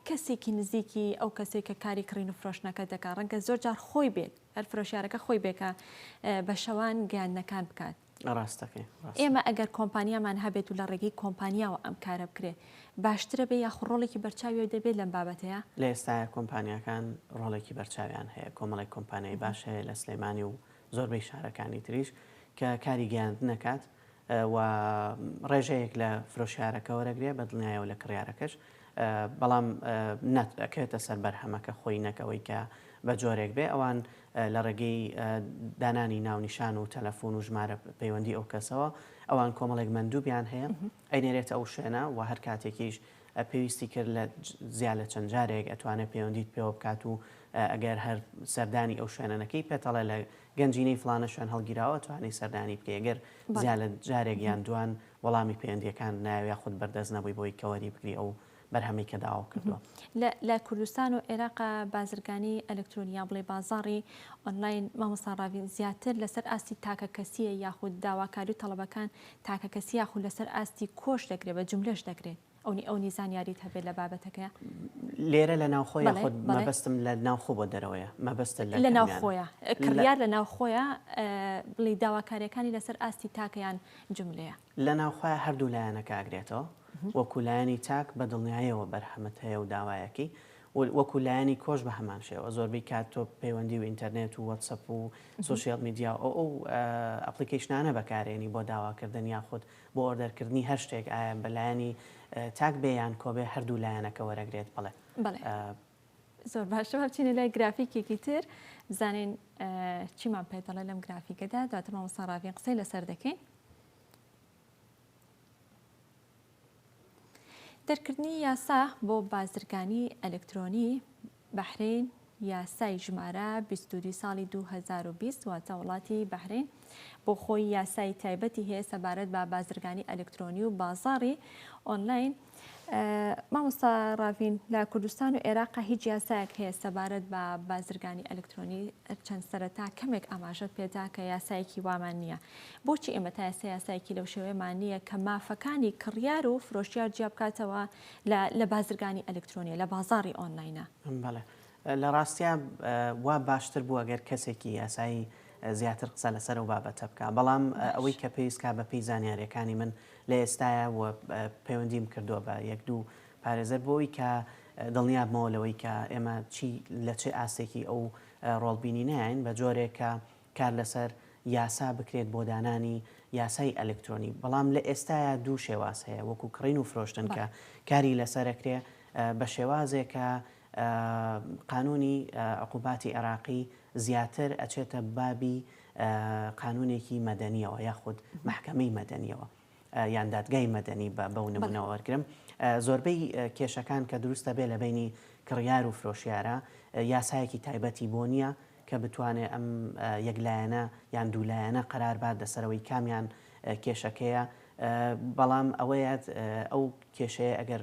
کەسێکی نزیکی ئەو کەسەی کە کاری کڕین و فرۆشتنەکە دەکات، ڕەنگە زۆر جار خۆی بێت. هەر فرۆشیارەکە خۆی بێ کە بە شەوان گەیاندنەکان بکات. ڕاستەکەی ڕاستە. ئێمە ئەگەر کۆمپانیامان هەبێت و لە ڕێگەی کۆمپانیاوە ئەم کارە بکرێ باشترە بێ یاخو ڕۆڵێکی بەرچاوی دەبێت لەم بابەتەیە؟ لە ئێستایا کۆمپانیاکان ڕۆڵێکی بەرچاویان هەیە، کۆمەڵێک کۆمپانیای باش هەیە لە سلێمانی و زۆربەی شارەکانی تریش کە کاری گەیاندنەکات، و ڕێژەیەک لە فرۆشیارەکە وەرەگرێ بە دڵنیایەوە لە کڕیارەکەش بەڵام نە ئەکرێتە سەر بەرهەمەکە خۆی نەک ئەوەی کە بە جۆرێک بێ ئەوان لە ڕێگەی دانانی ناونیشان و تەلەفۆن و ژمارە پەیوەندی ئەو کەسەوە ئەوان کۆمەڵێک مندووبیان هەیە ئەینێرێتە ئەو شوێنە و هەر کاتێکیش پێویستی کرد لە زیاد لە چەند جارێک ئەتوانێت پەیوەندیت پێوە بکات و ئەگەر هەر سەردانی ئەو شوێنەکەی پێتەڵە لە گەنجینەی فڵانە شوێن هەڵگیراوە توانی سەردانی بکەی گەر زیاد لە جارێک یان دوان وەڵامی پەیوەندیەکانت نایەوێ یاخود خود بەردەست نەبووی بۆی کە وەری بگری ئەو بەرهەمەی کە داوا کردووە. لە لە کوردستان و عێراق بازرگانی ئەلکترۆنی یا بڵێ بازاڕی ئۆنلاین مامۆستا ڕاڤین زیاتر لەسەر ئاستی تاکە کەسیە یاخود داواکاری و تەڵەبەکان تاکە کەسی یاخود لەسەر ئاستی کۆش دەکرێ بە جوملەش دەکرێ؟ ئەونی ئەونی زانیاریت هەبێت لە بابەتەکە لێرە لە ناوخۆ یا خۆت مەبەستم لە ناوخۆ بۆ دەرەوەیە مەبەستە لە ناوخۆیە کڕیار لە ناوخۆیە بڵی داواکاریەکانی لەسەر ئاستی تاکەیان جملەیە لە ناوخۆ هەردوو لایەنە کاگرێتەوە وەکو لایەنی تاک بە دڵنیایەوە بەرهەمت هەیە و داوایەکی وەکو لایەنی کۆش بە هەمان شێوە زۆربەی کات تۆ پەیوەندی و ئینتەرنێت و وەتسەپ و سوسیال میدیا و ئەو ئەپلیکیشنانە بەکارێنی بۆ داواکردن یاخود بۆ ئۆردەرکردنی هەر شتێک ئایا بە لایەنی تاک بێ یان کۆبێ هەردوو لایەنەکە وەرەگرێت بەڵێ. بەڵێ زۆر باشە با بچینە لای گرافیکێکی تر بزانین چیمان پێ دەڵێ لەم گرافیکەدا دواتر مامۆستا ڕاڤین قسەی لەسەر دەکەین دەرکردنی یاسا بۆ بازرگانی ئەلکترۆنی بەحرەین یاسای ژمارە بیست و دوو ساڵی دوو هەزار و بیست، واتە وڵاتی بەحرەین بۆ خۆی یاسای تایبەتی هەیە سەبارەت بە بازرگانی ئەلکترۆنی و بازاڕی ئۆنلاین. مامۆستا ڕاڤین لە کوردستان و ئێراقا هیچ یاسایەک هەیە سەبارەت بە بازرگانی ئەلکترۆنی چەند سەرەتا کەمێک ئاماژەت پێدا کە یاسایەکی وامان نییە بۆچی ئێمە تا ئێستا یاسایەکی لەو شێوەیەمان نییە کە مافەکانی کڕیار و فرۆشیار جیا بکاتەوە لە لە بازرگانی ئەلکترۆنیە لە بازاری ئۆنلاینە بەڵێ لە ڕاستیا وا باشتر بوو ئەگەر کەسێکی یاسایی زیاتر قسە لەسەر و بابەتە بکە بەڵام ئەوەی کە پێویستکە بە پێی زانیارەکانی من لە ئێستاە و پەیوەندیم کردووە بە یەک دوو پارێزەر بۆی کە دڵنیابمەوە لەوەی کە ئێمە چی لە چه ئاستێکی ئەو ڕۆڵبینی نایین بە جۆرێکە کار لەسەر یاسا بکرێت بۆ دانانی یاسای ئەلکترۆنی بەڵام لە ئێستایا دوو شێواز هەیە وەکو کڕین و فرۆشتن کە کاری لەسەر ئەکرێ بە شێوازێک کە قانونی عقوباتی عێراقی زیاتر ئەچێتە بابی قانونێکی مەدەنیەوە یاخود مەحکەمەی مەدەنیەوە. یان دادگای مەدەنی بە بەو نمونە وەرگرم زۆربەی کێشەکان کە دروستە بێ لە بینی کڕیار و فرۆشیارە یاسایەکی تایبەتی بۆ نییە کە بتوانێت ئەم یەکلایەنە یان دوولایەنە قەرار بات لەسەرەوەی کامیان کێشەکەیە بەڵام ئەوەیە ئەو کێشەیە ئەگەر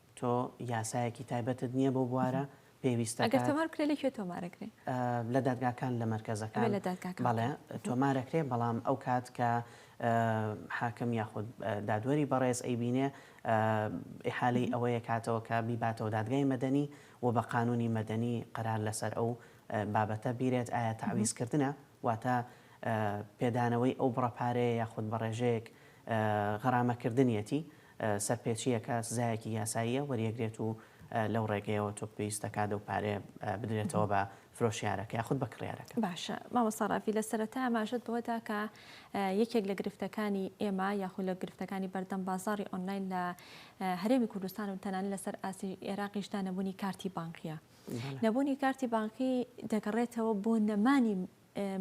تۆ یاسایەکی تایبەتت نیە بەو بوارە پێویستەکات. ئەگەر تۆماربکرێ لە کوێ تۆمارەکرێ؟ لە دادگاکان لە مەرکەزەکان. ئەبێ لە دادگاکان بکرێ. بەڵێ تۆمارەکرێ بەڵام ئەو کات کە حاکم یاخود دادوەری بەڕێز ئەیبینێ ئیحالەی ئەوەیە کاتەوە کە بیباتەوە دادگای مەدەنی و بە قانونی مەدەنی قەرار لەسەر ئەو بابەتە بیرێت ئایا تەعویز کردنە واتە پێدانەوەی ئەو بڕە پارەیە یاخود بە ڕێژەیەک غەرامە کردنیەتی سەرپێچییەکە سزایەکی یاساییە وەریەگرێت و لەو ڕێگەیەوە تۆ پێویست دەکات ئەو پارەیە بدرێتەوە بە فرۆشیارەکە یاخود بە کڕیارەکە. باشە مامۆستا ڕافی لە سەرەتا ئاماژەت بەوە دا کە یەکێک لە گرفتەکانی ئێمە یاخود لە گرفتەکانی بەردەم بازاڕی ئۆنلاین لە هەرێمی کوردستان و تەنانەت لەسەر ئاستی ئێراقیشدا نەبوونی کارتی بانکییە. نەبوونی کارتی بانکی دەگەڕێتەوە بۆ نەمانی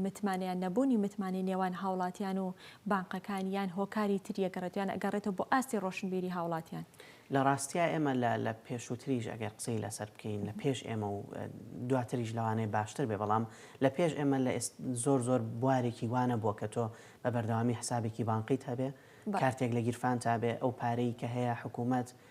متمانەیان نەبوونی متمانەی نێوان هاوڵاتیان و بانقەکان یان هۆکاری تری ئەگەڕێت یان ئەگەڕێتەوە بۆ ئاستی ڕۆشنبیری هاوڵاتیان؟ لە ڕاستیا ئێمە لە لە پێشووتریش ئەگەر قسەی لەسەر بکەین لە پێش ئێمە و دواتریش لەوانەیە باشتر بێ بەڵام لە پێش ئێمە لە ئێست زۆر زۆر بوارێکی وا نەبووە کە تۆ بە بەردەوامی حسابێکی بانقیت هەبێ کارتێک لە گیرفانتا بێ ئەو پارەی کە هەیە حکوومەت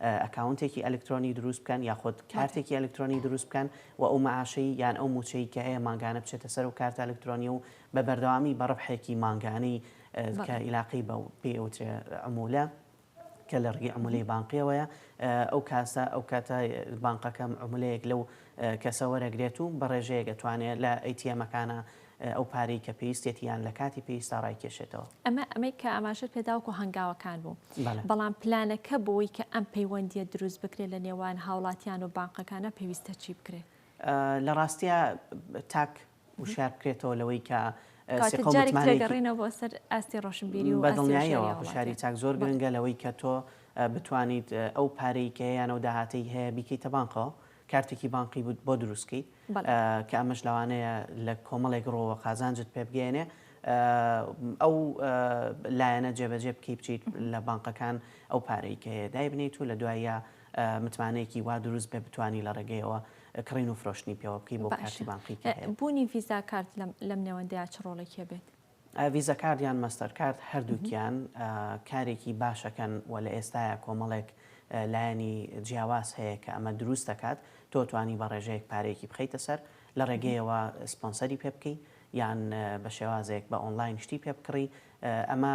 ئەکاونتێکی ئەلکترۆنی دروست بکەن یاخود کارتێکی ئەلکترۆنی دروست بکەن و ئەو مەعاشەی یان ئەو مووچەی کە هەیە مانگانە بچێتە سەر ئەو کارتە ئەلکترۆنیە و بە بەردەوامی بە ڕەبحێکی مانگانەی کە ئیلاقەی بە و پێی ئەوترێ عمولە کە لە ڕگی عملی بانقیەوەیە ئەو کاسە ئەو کاتە بانقەکەم عملەیەک لەو کەسە وەرەگرێت و بە ڕێژەیەک ئەتوانێت لە ئەیتیەمەکانە ئەو پارەی کە پێویستێتی یان لە کاتی پێویستا ڕایکێشێتەوە. ئەمە ئەمەی کە ئاماژەت پێدا وەکو هەنگاوەکان بوو. بەڵام پلانەکە بۆی کە ئەم پەیوەندییە دروست بکرێت لە نێوان هاوڵاتیان و بانقەکانە پێویستە چی بکرێت؟ لە ڕاستیا تاک وشیار بکرێتەوە لەوەی کە کاتێک جارێک تێگەڕینەوە بۆ سەر ئاستی ڕۆشنبیری و بەدڵنیاییەوە هۆشیاری تاک زۆر گرنگە لەوەی کە تۆ بتوانیت ئەو پارەی کە یانە و داهاتەی هەیە بیکەیتە بانقەوە کارتێکی بانقی بوت بۆ دروست کەی کە ئەمەش لەوانەیە لە کۆمەڵێک ڕۆوە قازانجت پێ بگەێنێ ئەو لایەنە جێبەجێ بکەی بچیت لە بانقەکان ئەو پارەی کە دای بنیت و لە دوایە متمانەیەکی وا دروست بێ بتانی لە ڕێگەیەوە کڕین و فرۆشتنی پێوە بکەی بۆ کارتی بانقی بوونی ڤیزا کارت لەم نێوەندەیە چ ڕۆڵێکێ بێت؟ ڤیزە کارد یان مەستەر کارد هەردووکیان کارێکی باشەکەن و لە ئێستایا کۆمەڵێک لایەنی جیاواز هەیە کە ئەمە دروست دەکات تۆ توانی بە ڕێژەیەک پارەیەکی بخەیتە سەر لە ڕێگەیەوە سپۆنسەری پێ بکەی یان بە شێوازێک بە ئۆنلاین شتی پێ بکڕی ئەمە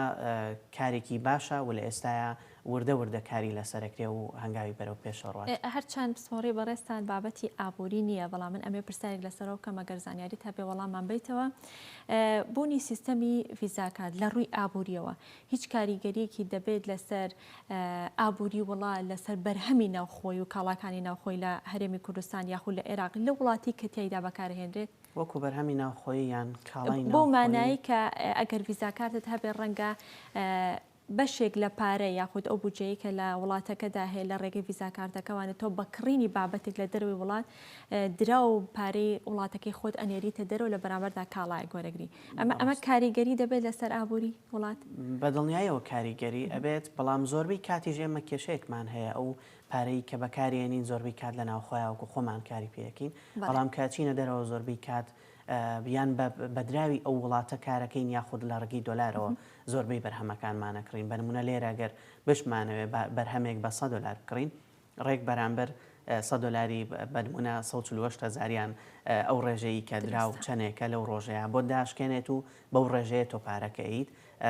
کارێکی باشە و لە ئێستایا وردە وردە کاری لەسەرەکرێ و هەنگاوی بەرەو پێشەوە ڕوات. هەر چەند پسپۆڕی بەڕێزتان بابەتی ئابووری نییە، بەڵام من ئەمەوێ پرسیارێک لەسەرەوە بکەم ئەگەر زانیاریت هەبێ وەڵاممان بەیتەوە. بوونی سیستەمی ڤیزاکان لە ڕووی ئابوورییەوە هیچ کاریگەرییەکی دەبێت لەسەر ئابووری وڵا لەسەر بەرهەمی ناوخۆی و کاڵاکانی ناوخۆی لە هەرێمی کوردستان یاخود لە ئێراق لەو وڵاتی کە تیایدا بەکارهێنرێت؟ وەکو بەرهەمی ناوخۆیی یان کاڵای ناوخۆیی؟ بەو مانای کە ئەگەر ڤیزاکارتت هەبێ ڕەنگە بەشێک لە پارە یاخود ئەو بودجەیەی کە لە وڵاتەکەدا هەیە لە ڕێگەی ڤیزا کارتەکە وانە تۆ بە کڕینی بابەتێک لە دەرەوەی وڵات دراو پارەی وڵاتەکەی خۆت ئەنێریتە دەرەوە لە بەرامبەردا کاڵایەک وەرەگری ئەمە ئەمە کاریگەری دەبێت لەسەر ئابووری وڵات؟ بە دڵنیایەوە کاریگەری ئەبێت بەڵام زۆربەی کاتیش ئێمە کێشەیەکمان هەیە ئەو پارەی کە بەکاریێنین زۆربەی کات لە ناوخۆیاوەکو خۆمان کاری پێەکەین بەڵام کە چینە دەرەوە زۆربەی کات یان بە بە دراوی ئەو وڵاتە کارەکەین یاخود لە ڕگی دۆلارەوە زۆربەی بەرهەمەکانمان ئەکڕین بە نمونە لێرە گەر بشمانەوێ با بەرهەمێک بە سەد دۆلار بکڕین ڕێک بەرامبەر سەد دۆلاری بە نمونە سەد و چل و هەشت هەزاریان ئەو ڕێژەیی کە دراو چەنێکە لەو ڕۆژەیە بۆت داشکێنێت و بەو ڕێژەیە تۆ پارەکە ئەیت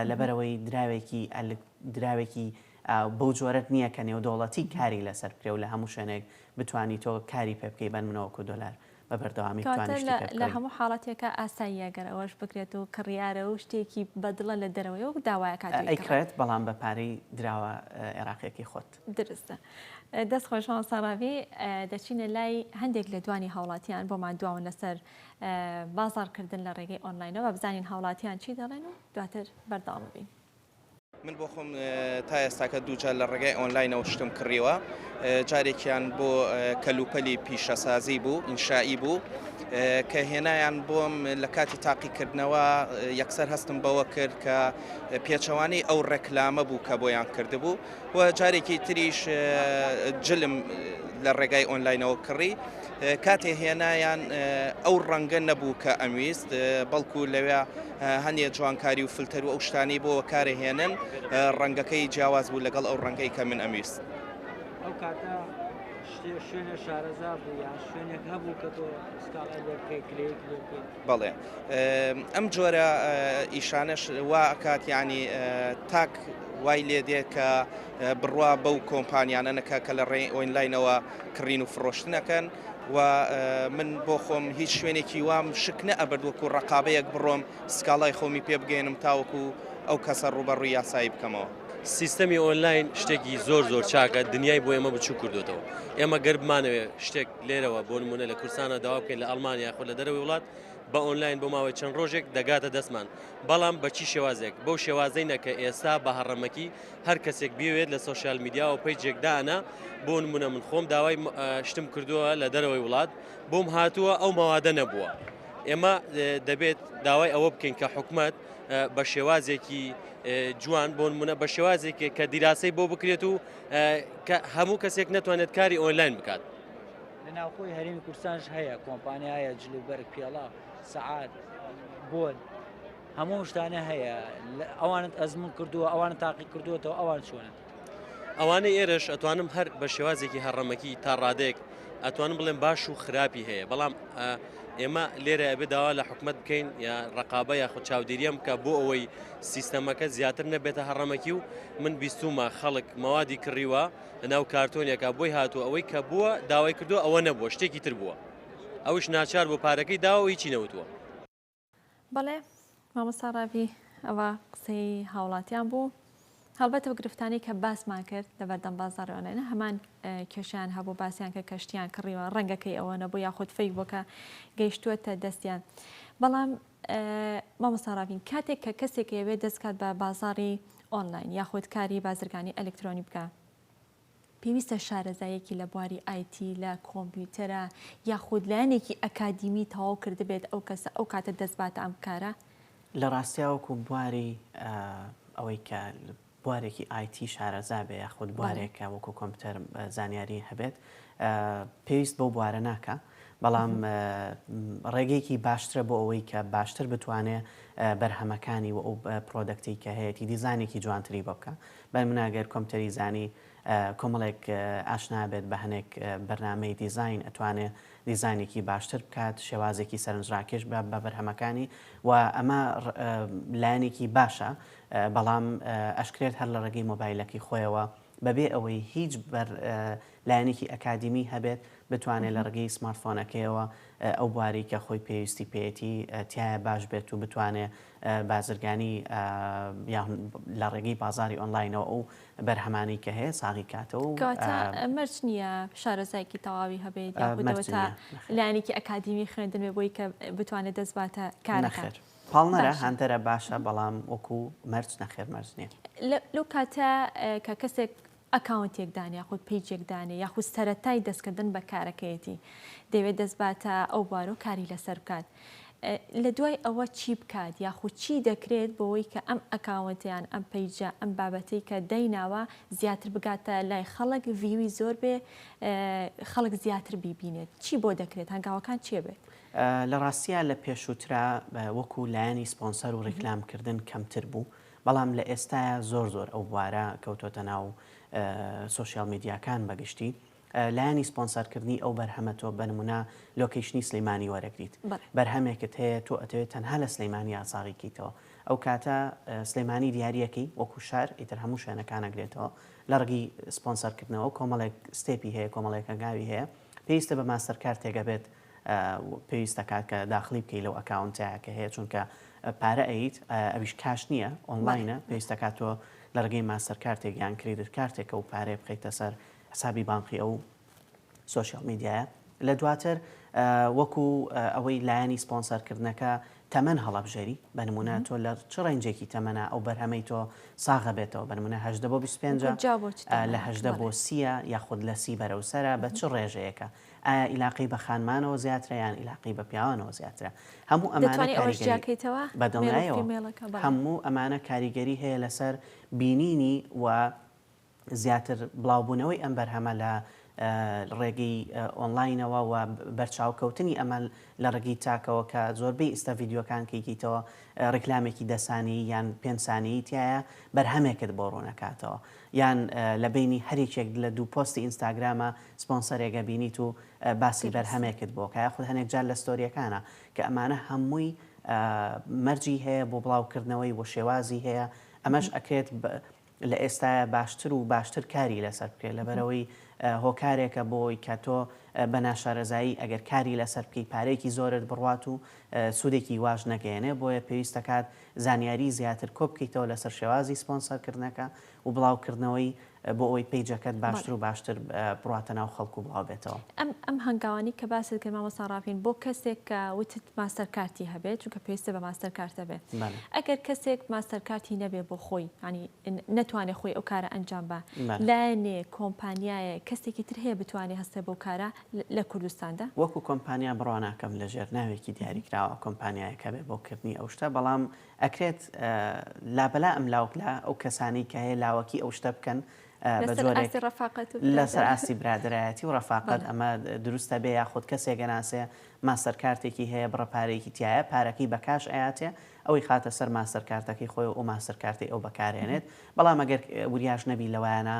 لەبەرەوەی دراوێکی ئەلک دراوێکی بەو جۆرەت نییە کە نێودەوڵەتی کاری لەسەر بکرێ و لە هەموو شوێنێک بتانی تۆ کاری پێ بکەی بەن منەوەکو دۆلار بە بەردەوامی توانین شتێک بکەین. لە هەموو حاڵەتێکا ئاساییە گەر ئەوەش بکرێت و کڕیارە و شتێکی بە دڵە لە دەرەوەی وەک داوایەکە دووی کڕێت. ئەیکڕێت بەڵام بە پارەی دراوە عێراقیەکەی خۆت. دروستە. دەست خۆش مامۆستا ڕاڤی. دەچینە لای هەندێک لە دوانی هاوڵاتیان بۆمان دواون لەسەر بازاڕکردن لە ڕێگەی ئۆنلاینەوە بزانین هاوڵاتیان چی دەڵێن و دواتر بەردەوام بین. من بۆ خۆم تا ئێستاکە دووجار لە ڕێگای ئۆنلاینەوە شتم کڕیوە جارێکیان بۆ کەلوپەلی پیشەسازی بوو ئینشایی بوو کە هێنایان بۆم لە کاتی تاقیکردنەوە یەکسەر هەستم بەوە کرد کە پێچەوانەی ئەو ڕێکلامە بوو کە بۆیان کردبوو و جارێکی تریش جلم لە ڕێگای ئۆنلاینەوە کڕی کاتێ هێنایان ئەو ڕەنگە نەبوو کە ئەمویست بەڵکو لەوێ هەندێک جوانکاری و فلتەر و ئەو شتانی بۆ کارە هێنن ڕەنگەکەی جیاواز بوو لەگەڵ ئەو ڕەنگەی کە من ئەمویست. شوێنە شارەزا بوو یان شوێنێک هەبوو کە تۆ سکاڵای لێ بکەیت کلێیت لێ بکەیت بەڵێ ئەم جۆرە ئیشانەش وا ئەکات یانی تاک وای لێ دێ کە بڕوا بەو کۆمپانیانە نەکە کە لە ڕێ ئۆینلاینەوە کڕین و فڕۆشتنەکەن و من بۆ خۆم هیچ شوێنێکی وام شک نە ئەبرد وەکو ڕقابەیەک بڕۆم سکاڵای خۆمی پێ بگەێنم تاوەکو ئەو کەسە ڕوبەڕووی یاسایی بکەمەوە. سیستەمی ئۆنلاین شتێکی زۆر زۆر چاکە دنیای بۆ ئێمە بچوک کردۆتەوە ئێمە گەر بمانەوێ شتێک لێرەوە بۆ نموونە لە کوردستانە داوا بکەین لە ئەڵمانیا خۆ لە دەرەوەی وڵات بە ئۆنلاین بۆ ماوەی چەند ڕۆژێک دەگاتە دەستمان بەڵام بەچی شێوازێک بەو شێوازەی نەکە ئێستا بە هەڕەمەکی هەر کەسێک بوێت لە سوۆسیال میدیاەوە پێی جێکدانە بۆ نمونە من خۆم داوای شتم کردووە لە دەرەوەی وڵات بۆم هاتووە ئەو مەوادە نەبووە ئێمە دەبێت داوای ئەوە بکەین کە حکومت بە شێوازێکی جوان بۆ نمونە بە شێوازێکی کە دیراسی بۆ بکرێت و کە هەموو کەسێک نەتوانێت کاری ئۆنلاین بکات لە ناوخۆی هەرمی کوردستانش هەیە کۆمپانیایە جلوبەرگ پێڵا سعات بۆن هەموو شتانە هەیە ئەوانت ئەزمون کردووە ئەوان تاقی کردووەەوە ئەوان چۆنن ئەوانەی ئێرش ئەتوانم هەر بە شێوازێکی هەڕەمەکی تا ڕادێک ئەتوانم بڵێم باش و خراپی هەیە بەڵام ئێمە لێرە ئەبێ داوا لە حکومت بکەین یا ڕقابە یاخود چاودێریان بکە بۆ ئەوەی سیستەمەکە زیاتر نەبێتە هەڕەمەکی و من بیستومە خەڵک مەوادی کڕیوە لەناو کارتۆنیەکە بۆی هاتوو ئەوەی کە بووە داوای کردو ئەوە نەبووە شتێکی تر بووە ئەوش ناچار بۆ پارەکەی داوە هیچی نەوتووە بەڵێ مامۆستا ڕاڤی ئەوە قسەی هاوڵاتیان بوو هەڵبەت و گرفتانی کە باسمان کرد لە بەردەم بازارەوەێنە هەمان کێشیان هەبوو باسییان کە کەشتیان کڕیوە ڕەنگەکەی ئەوە نەبوو یاخود فەی بۆکە گەیشتووەتە دەستیان بەڵام مامۆستاڕاوین کاتێک کە کەسێک ئەوێ دەستکات بە بازاری ئۆنلاین یاخود کاری بازرگانی ئەلکترۆنی بکە پێویستە شارەزاییەکی لە بواری ئای تی لە کۆمپیوتەرە یاخود لایەنێکی ئەکادیمی تەواو کردبێت ئەو کەسە ئەو کاتە دەستباتە ئەم کارە؟ لە ڕاستیا وەکو بواری ئەوەی کە بوارێکی ئای تی شارەزا بێ یاخود بوارێک کە وەکو کۆمپیوتەر زانیاری هەبێت پێویست بەو بوارە ناکا بەڵام ڕێگەیەکی باشترە بۆ ئەوەی کە باشتر بتوانێ بەرهەمەکانی و ئەو پرۆدەکتی کە هەیەی دیزانێکی جوانتری بۆ بکە بای منە گەر کۆمپتەری زانی کۆمەڵێک ئاشنا بێت بە هەنێک بەرنامەی دیزاین ئەتوانێ دیزاینێکی باشتر بکات شێوازێکی سەرنجڕاکێش بە بە بەرهەمەکانی و ئەمە لایەنێکی باشە بەڵام ئەشکرێت هەر لە ڕێگەی مۆبایلەکەی خۆیەوە بەبێ ئەوەی هیچ بەر لایەنێکی ئەکادیمی هەبێت بتوانێت لە ڕگەی سمارتفۆنەکەیەوە ئەو بواری کە خۆی پێویستی پێێتی تایە باش بێت و بتوانێت بازرگانی یان لە ڕێگەی بازاری ئۆنلاینەوە ئەو بەرهەمانەی کە هەیە ساغی کاتەوە و کەواتە مەرج نییە شارەزایەکی تەواوی هەبێت یاخود مەرج ئەوەتا نییە، نەخێر. لایەنێکی ئەکادیمی خوێندن بێ بۆی کە بتوانێت دەست باتە کارەکە نەخێر پاڵنەرە باشە. هاندەرە باشە بەڵام وەکو مەرج نەخێر مەرج نییە. لە لەو کاتە کە کەسێک ئەکاونتێک دان یاخود پەیجێک دانێ یاخود سەرەتای دەستکردن بە کارەکەیەتی دەیەوێت دەست باتە ئەو بوارەو کاری لەسەر بکات لە دوای ئەوە چی بکات یاخود چی دەکرێت بۆوەی کە ئەم ئەکاونتە یان ئەم پەیجە ئەم بابەتەی کە دایناوە زیاتر بگاتە لای خەڵک ڤیوی زۆر بێ خەڵک زیاتر بیبینێت چی بۆ دەکرێت هەنگاوەکان چێ بێت؟ لە ڕاستیا لە پێشووترا وەکو لایەنی سپۆنسەر و ڕیکلام کردن کەمتر بوو بەڵام لە ئێستایا زۆر زۆر ئەو بوارە کەوتۆتە ناو سۆشیال میدیاکان بە گشتی لایەنی سپۆنسەر کردنی ئەو بەرهەمە تۆ بە نموونە لۆکەیشنی سلەیمانی وەرەگریت بەرهەمێکت هەیە تۆ ئەتەوێت تەنها لە سلەیمانی ئاساغی کەیتەوە ئەو کاتە سلەیمانی دیارەکەی وەکو شار ئیتر هەموو شوێنەکان ئەگرێتەوە لە ڕگی سپۆنسەر کردنەوە کۆمەڵێک ستێپی هەیە کۆمەڵێکە گاوی هەیە پێویستە بە ماستەر کارتێکە بێت پێویست دەکات کە داخڵی بکەیت لەو ئەکاونتە کە هەیە چونکە پارە ئەیت ئەویش کاش نییە ئۆنلاینە پێویست دەکات تۆ لە ڕگەی ماستەر کارتێک یان کریدت کارتێکە و پارێ بخیتە سەر حسابی بانقی ئەو سوسیال میدیایە لە دواتر وەکو ئەوەی لایەنی سپۆنسەرکردنەکە تەمەەن هەڵبژێری بەنمونە تۆ لە چ ڕێنجێکی تەمەە ئەو بەرهەمەی تۆ ساغە بێتەوە بەنمونە هەدە بۆ 25 لە هەدە بۆ سیە یاخود لە سی بەرەوسرە بە چ ڕێژەیەەکە ئایا ئیلاقەی بە خانمانەوە زیاترە یان ئیلاقەی بە پیاوانەوە زیاترە هەموو ئەمانە کاریگەری بەدڵنیایەوە هەموو ئەمانە کاریگەری هەیە لەسەر بینینی و زیاتر بڵاوبوونەوەی ئەم بەرهەمە لە ڕێگەی ئۆنلاینەوە و بەرچاوکەوتنی ئەمە لە ڕگی تاکەوە کە زۆربەی ئیستا یددیوەکان کەیکەیتەوە ڕیکلامێکی دەسانی یان پێنسانی تایە بەرهەمێکت بۆ ڕوونەکاتەوە یان لە بەینی هەر یەکێک لە دوو پۆستی ئینستاگرامە سپۆنسەرێک ئەبینیت و باسی بەرهەمێکت بۆ ئەکا یاخود هەنێک جار لە ستۆریەکانا کە ئەمانە هەمووی مەرجی هەیە بۆ بڵاو کردنەوەی و شێوازی هەیە ئەمەش ئەکرێت لە ئێستاە باشتر و باشتر کاری لەسەر بکرێت لەبەرەوەی هۆکارێکە بۆی کە تۆ بە ناشارەزایی ئەگەر کاری لەسەر بکەی پارێکی زۆرت بڕات و سوودێکی واش نەگەێنێ بۆیە پێویستەکات زانیاری زیاتر کۆبکەیتەوە لەسەر شێوازی سپۆنسەر کردنەکە و بڵاو کردنەوەی بۆ ئەوەی پەیجەکەت باشتر و باشتر بڕواتە ناو خەڵک و بڵاو بێتەوە. ئەم ئەم هەنگاوانەی کە باست کرد مامۆستا ڕافین بۆ کەسێک کە وتت ماستەر کارتی هەبێت چونکە پێویستە بە ماستەر کارت هەبێت ئەگەر کەسێک ماستەر کارتی نەبێت بۆ خۆی یانی نەتوانێت خۆی ئەو کارە ئەنجام با لایەنێ کۆمپانیایە کەسێکی تر هەیە بتوانێت هەستێ بەو کارە لە کوردستاندا. وەکو کۆمپانیا بڕواناکەم لەژێر ناوێکی دیاریکراوە کۆمپانیایەک هەبێت بۆ کردنی ئەو شتە بەڵام ئەکرێت لابەلا ئەملاوک لە ئەو کەسانەی کە هەیە لاوەکی ئەو شتە بکەن بە جۆرێک لەسەر ئاستی برادرایەتی و ڕەفاقەت ئەمە دروستە بێ یاخود کەسێک گەناسێ ماستەر کارتێکی هەیە بڕە پارێکی تایە پارەکەی بە کاش ئااتێ ئەوەی خاتە سەر ماستەر کارتەکەی خۆی و ئەو ماستەر کارتی ئەو بەکارێنێت بەڵام ئەگەر وریاش نەبی لەوایانە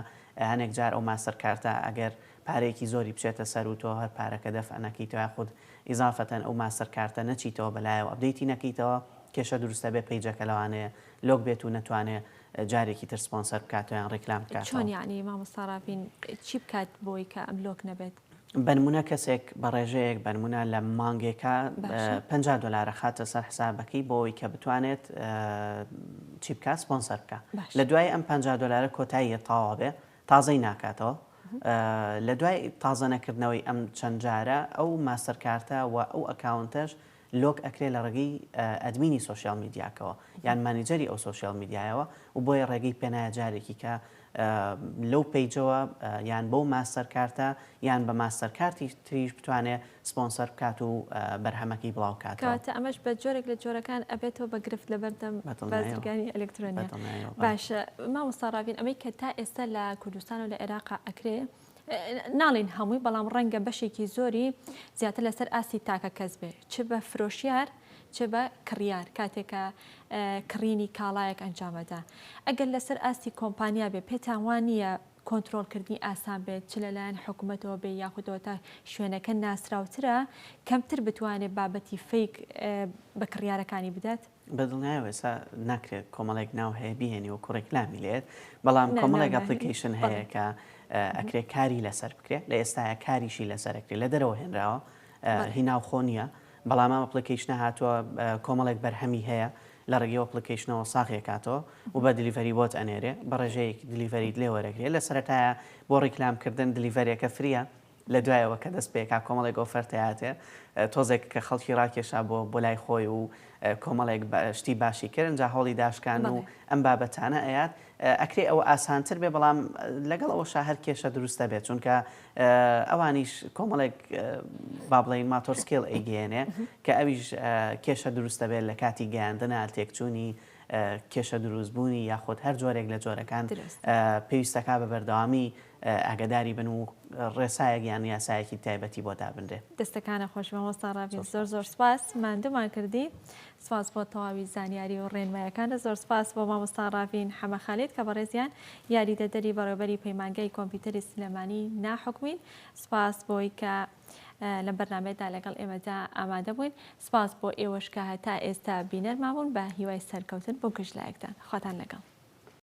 هەنێک جار ئەو ماستەر کارتە ئەگەر پارەیەکی زۆری بچێتە سەر و تۆ هەر پارەکە دەفع نەکەیتەوە یاخود ئیزافەتەن ئەو ماستەر کارتە نەچیتەوە بەلایەوە ئەپدەیتی نەکەیتەوە کێشە دروست ئەبێ پەیجەکە لەوانەیە لۆک بێت و نەتوانێ جارێکی تر سپۆنسەر بکاتەوە یان ڕیکلام بکاتەوە. چۆن یەعنی مامۆستا ڕاڤین چی بکات بۆی کە ئەم لۆک نەبێت؟ بەنمونە کەسێک بە ڕێژەیەک بەنمونە لە مانگێکا پەنجا دۆلار ئەخاتە سەر حسابەکەی بۆ ئەوەی کە بتوانێت چی بکات سپۆنسەر بکات لە دوای ئەم پەنجا دۆلارە کۆتاییە تەواو ئەبێ تازەی ناکاتەوە لە دوای تازە نەکردنەوەی ئەم چەند جارە ئەو ماستەر کارتە و ئەو ئەکاونتەش لۆک ئەکرێ لە ڕێگەی ئەدمینی سوسیال میدیاکەوە یان مانیجەری ئەو سوسیال میدیایەوە و بۆیە ڕێگەی پێنایە جارێکی کە لەو پیجەوە یان بەو ماستەر کارتە یان بە ماستەر کارتی تریش بتوانێت سپۆنسەر بکات و بەرهەمەکەی بڵاو کاتەوە. کەواتە ئەمەش بە جۆرێک لە جۆرەکان ئەبێتەوە بە گرفت لە بەردەم بازرگانی ئەلکترۆنیا. باشە مامۆستا ڕاڤین ئەمەی کە تا ئێستا لە کوردستان و لە عێراقا ئەکرێ، ناڵێین هەمووی بەڵام ڕەنگە بەشێکی زۆری زیاتر لەسەر ئاستی تاکە کەس بێ چ بە فرۆشیار چ بە کڕیار کاتێک کە کڕینی کاڵایەک ئەنجام ئەدا ئەگەر لەسەر ئاستی کۆمپانیا بێ پێتان وا نییە کۆنترۆڵکردنی ئاسان بێت، چ لەلایەن حکومەتەوە بێ یاخودەوە تا شوێنەکە ناسراوترە، کەمتر بتوانێت بابەتی فەیک بە کڕیارەکانی بدات؟ بە دڵنیایەوە ئێستا ناکرێت کۆمەڵێک ناو هەیە بیهێنی وەکو ڕێکلامی لێت، بەڵام کۆمەڵێک ئەپلیکەیشن هەیە کە ئەکرێت کاری لەسەر بکرێت، لە ئێستایا کاریشی لەسەر ئەکرێت، لە دەرەوە هێنراوە هی ناوخۆ نییە، بەڵام ئەم ئەپلیکەیشنە هاتووە کۆمەڵێک بەرهەمی هەیە لە ڕێگەی ئۆپڵیکەیشنەوە ساغی ئەکاتەوە و بە دلیڤەری بۆت ئەنێرێ بە ڕێژەیەک دلیڤەریت لێ وەرەگرێ لە سەرەتایە بۆ ڕیکلام کردن دلیڤەرێکە فریە لە دوایەوە کە دەست پێکا کۆمەڵێک ئۆفەرتەی هاتێ تۆزێک کە خەڵکی ڕاکێشا بۆ بۆ لای خۆی و کۆمەڵێک شتی باشی کرد ئەنجا هەوڵی داشکان و ئەم بابەتانە ئەیات ئەکرێ ئەوە ئاسانتر بێ بەڵام لەگەڵ ئەوەشا هەر کێشە دروستە بێت چونکە ئەوانیش کۆمەڵێک با بڵێین ماتۆر سکێڵ ئەیگەیەنێ کە ئەویش کێشە دروست دەبێت لە کاتی گەیاندنە تێکچوونی کێشە دروست بوونی یاخود هەر جۆرێک لە جۆرەکان پێویستەکە بە بەردەوامی ئاگداری بن و ڕێسایەک یان یاسایەکی تایبەتی بۆ دابنرێ دەستەکانە خۆش بە مۆستا ڕاوی زۆر زۆر سپاس مادومان کردی سپاس بۆ تەواوی زانیاری و ڕێنمایەکانت. زۆر سپاس بۆ مامۆستا ڕاڤین حەمە خالید کە بەڕێزیان یاریدەدەری بەڕێوبەری پەیمانگای کۆمپیوتەری سلێمانی نا حکومین. سپاس بۆی کە لەم بەرنامەیەدا لەگەڵ ئێمەدا ئامادە بووین. سپاس بۆ ئێوەش کە هەتا ئێستا بینەرمان بوون. بە هیوای سەرکەوتن بۆ گشت لایەکتان. خواتان لەگەڵ.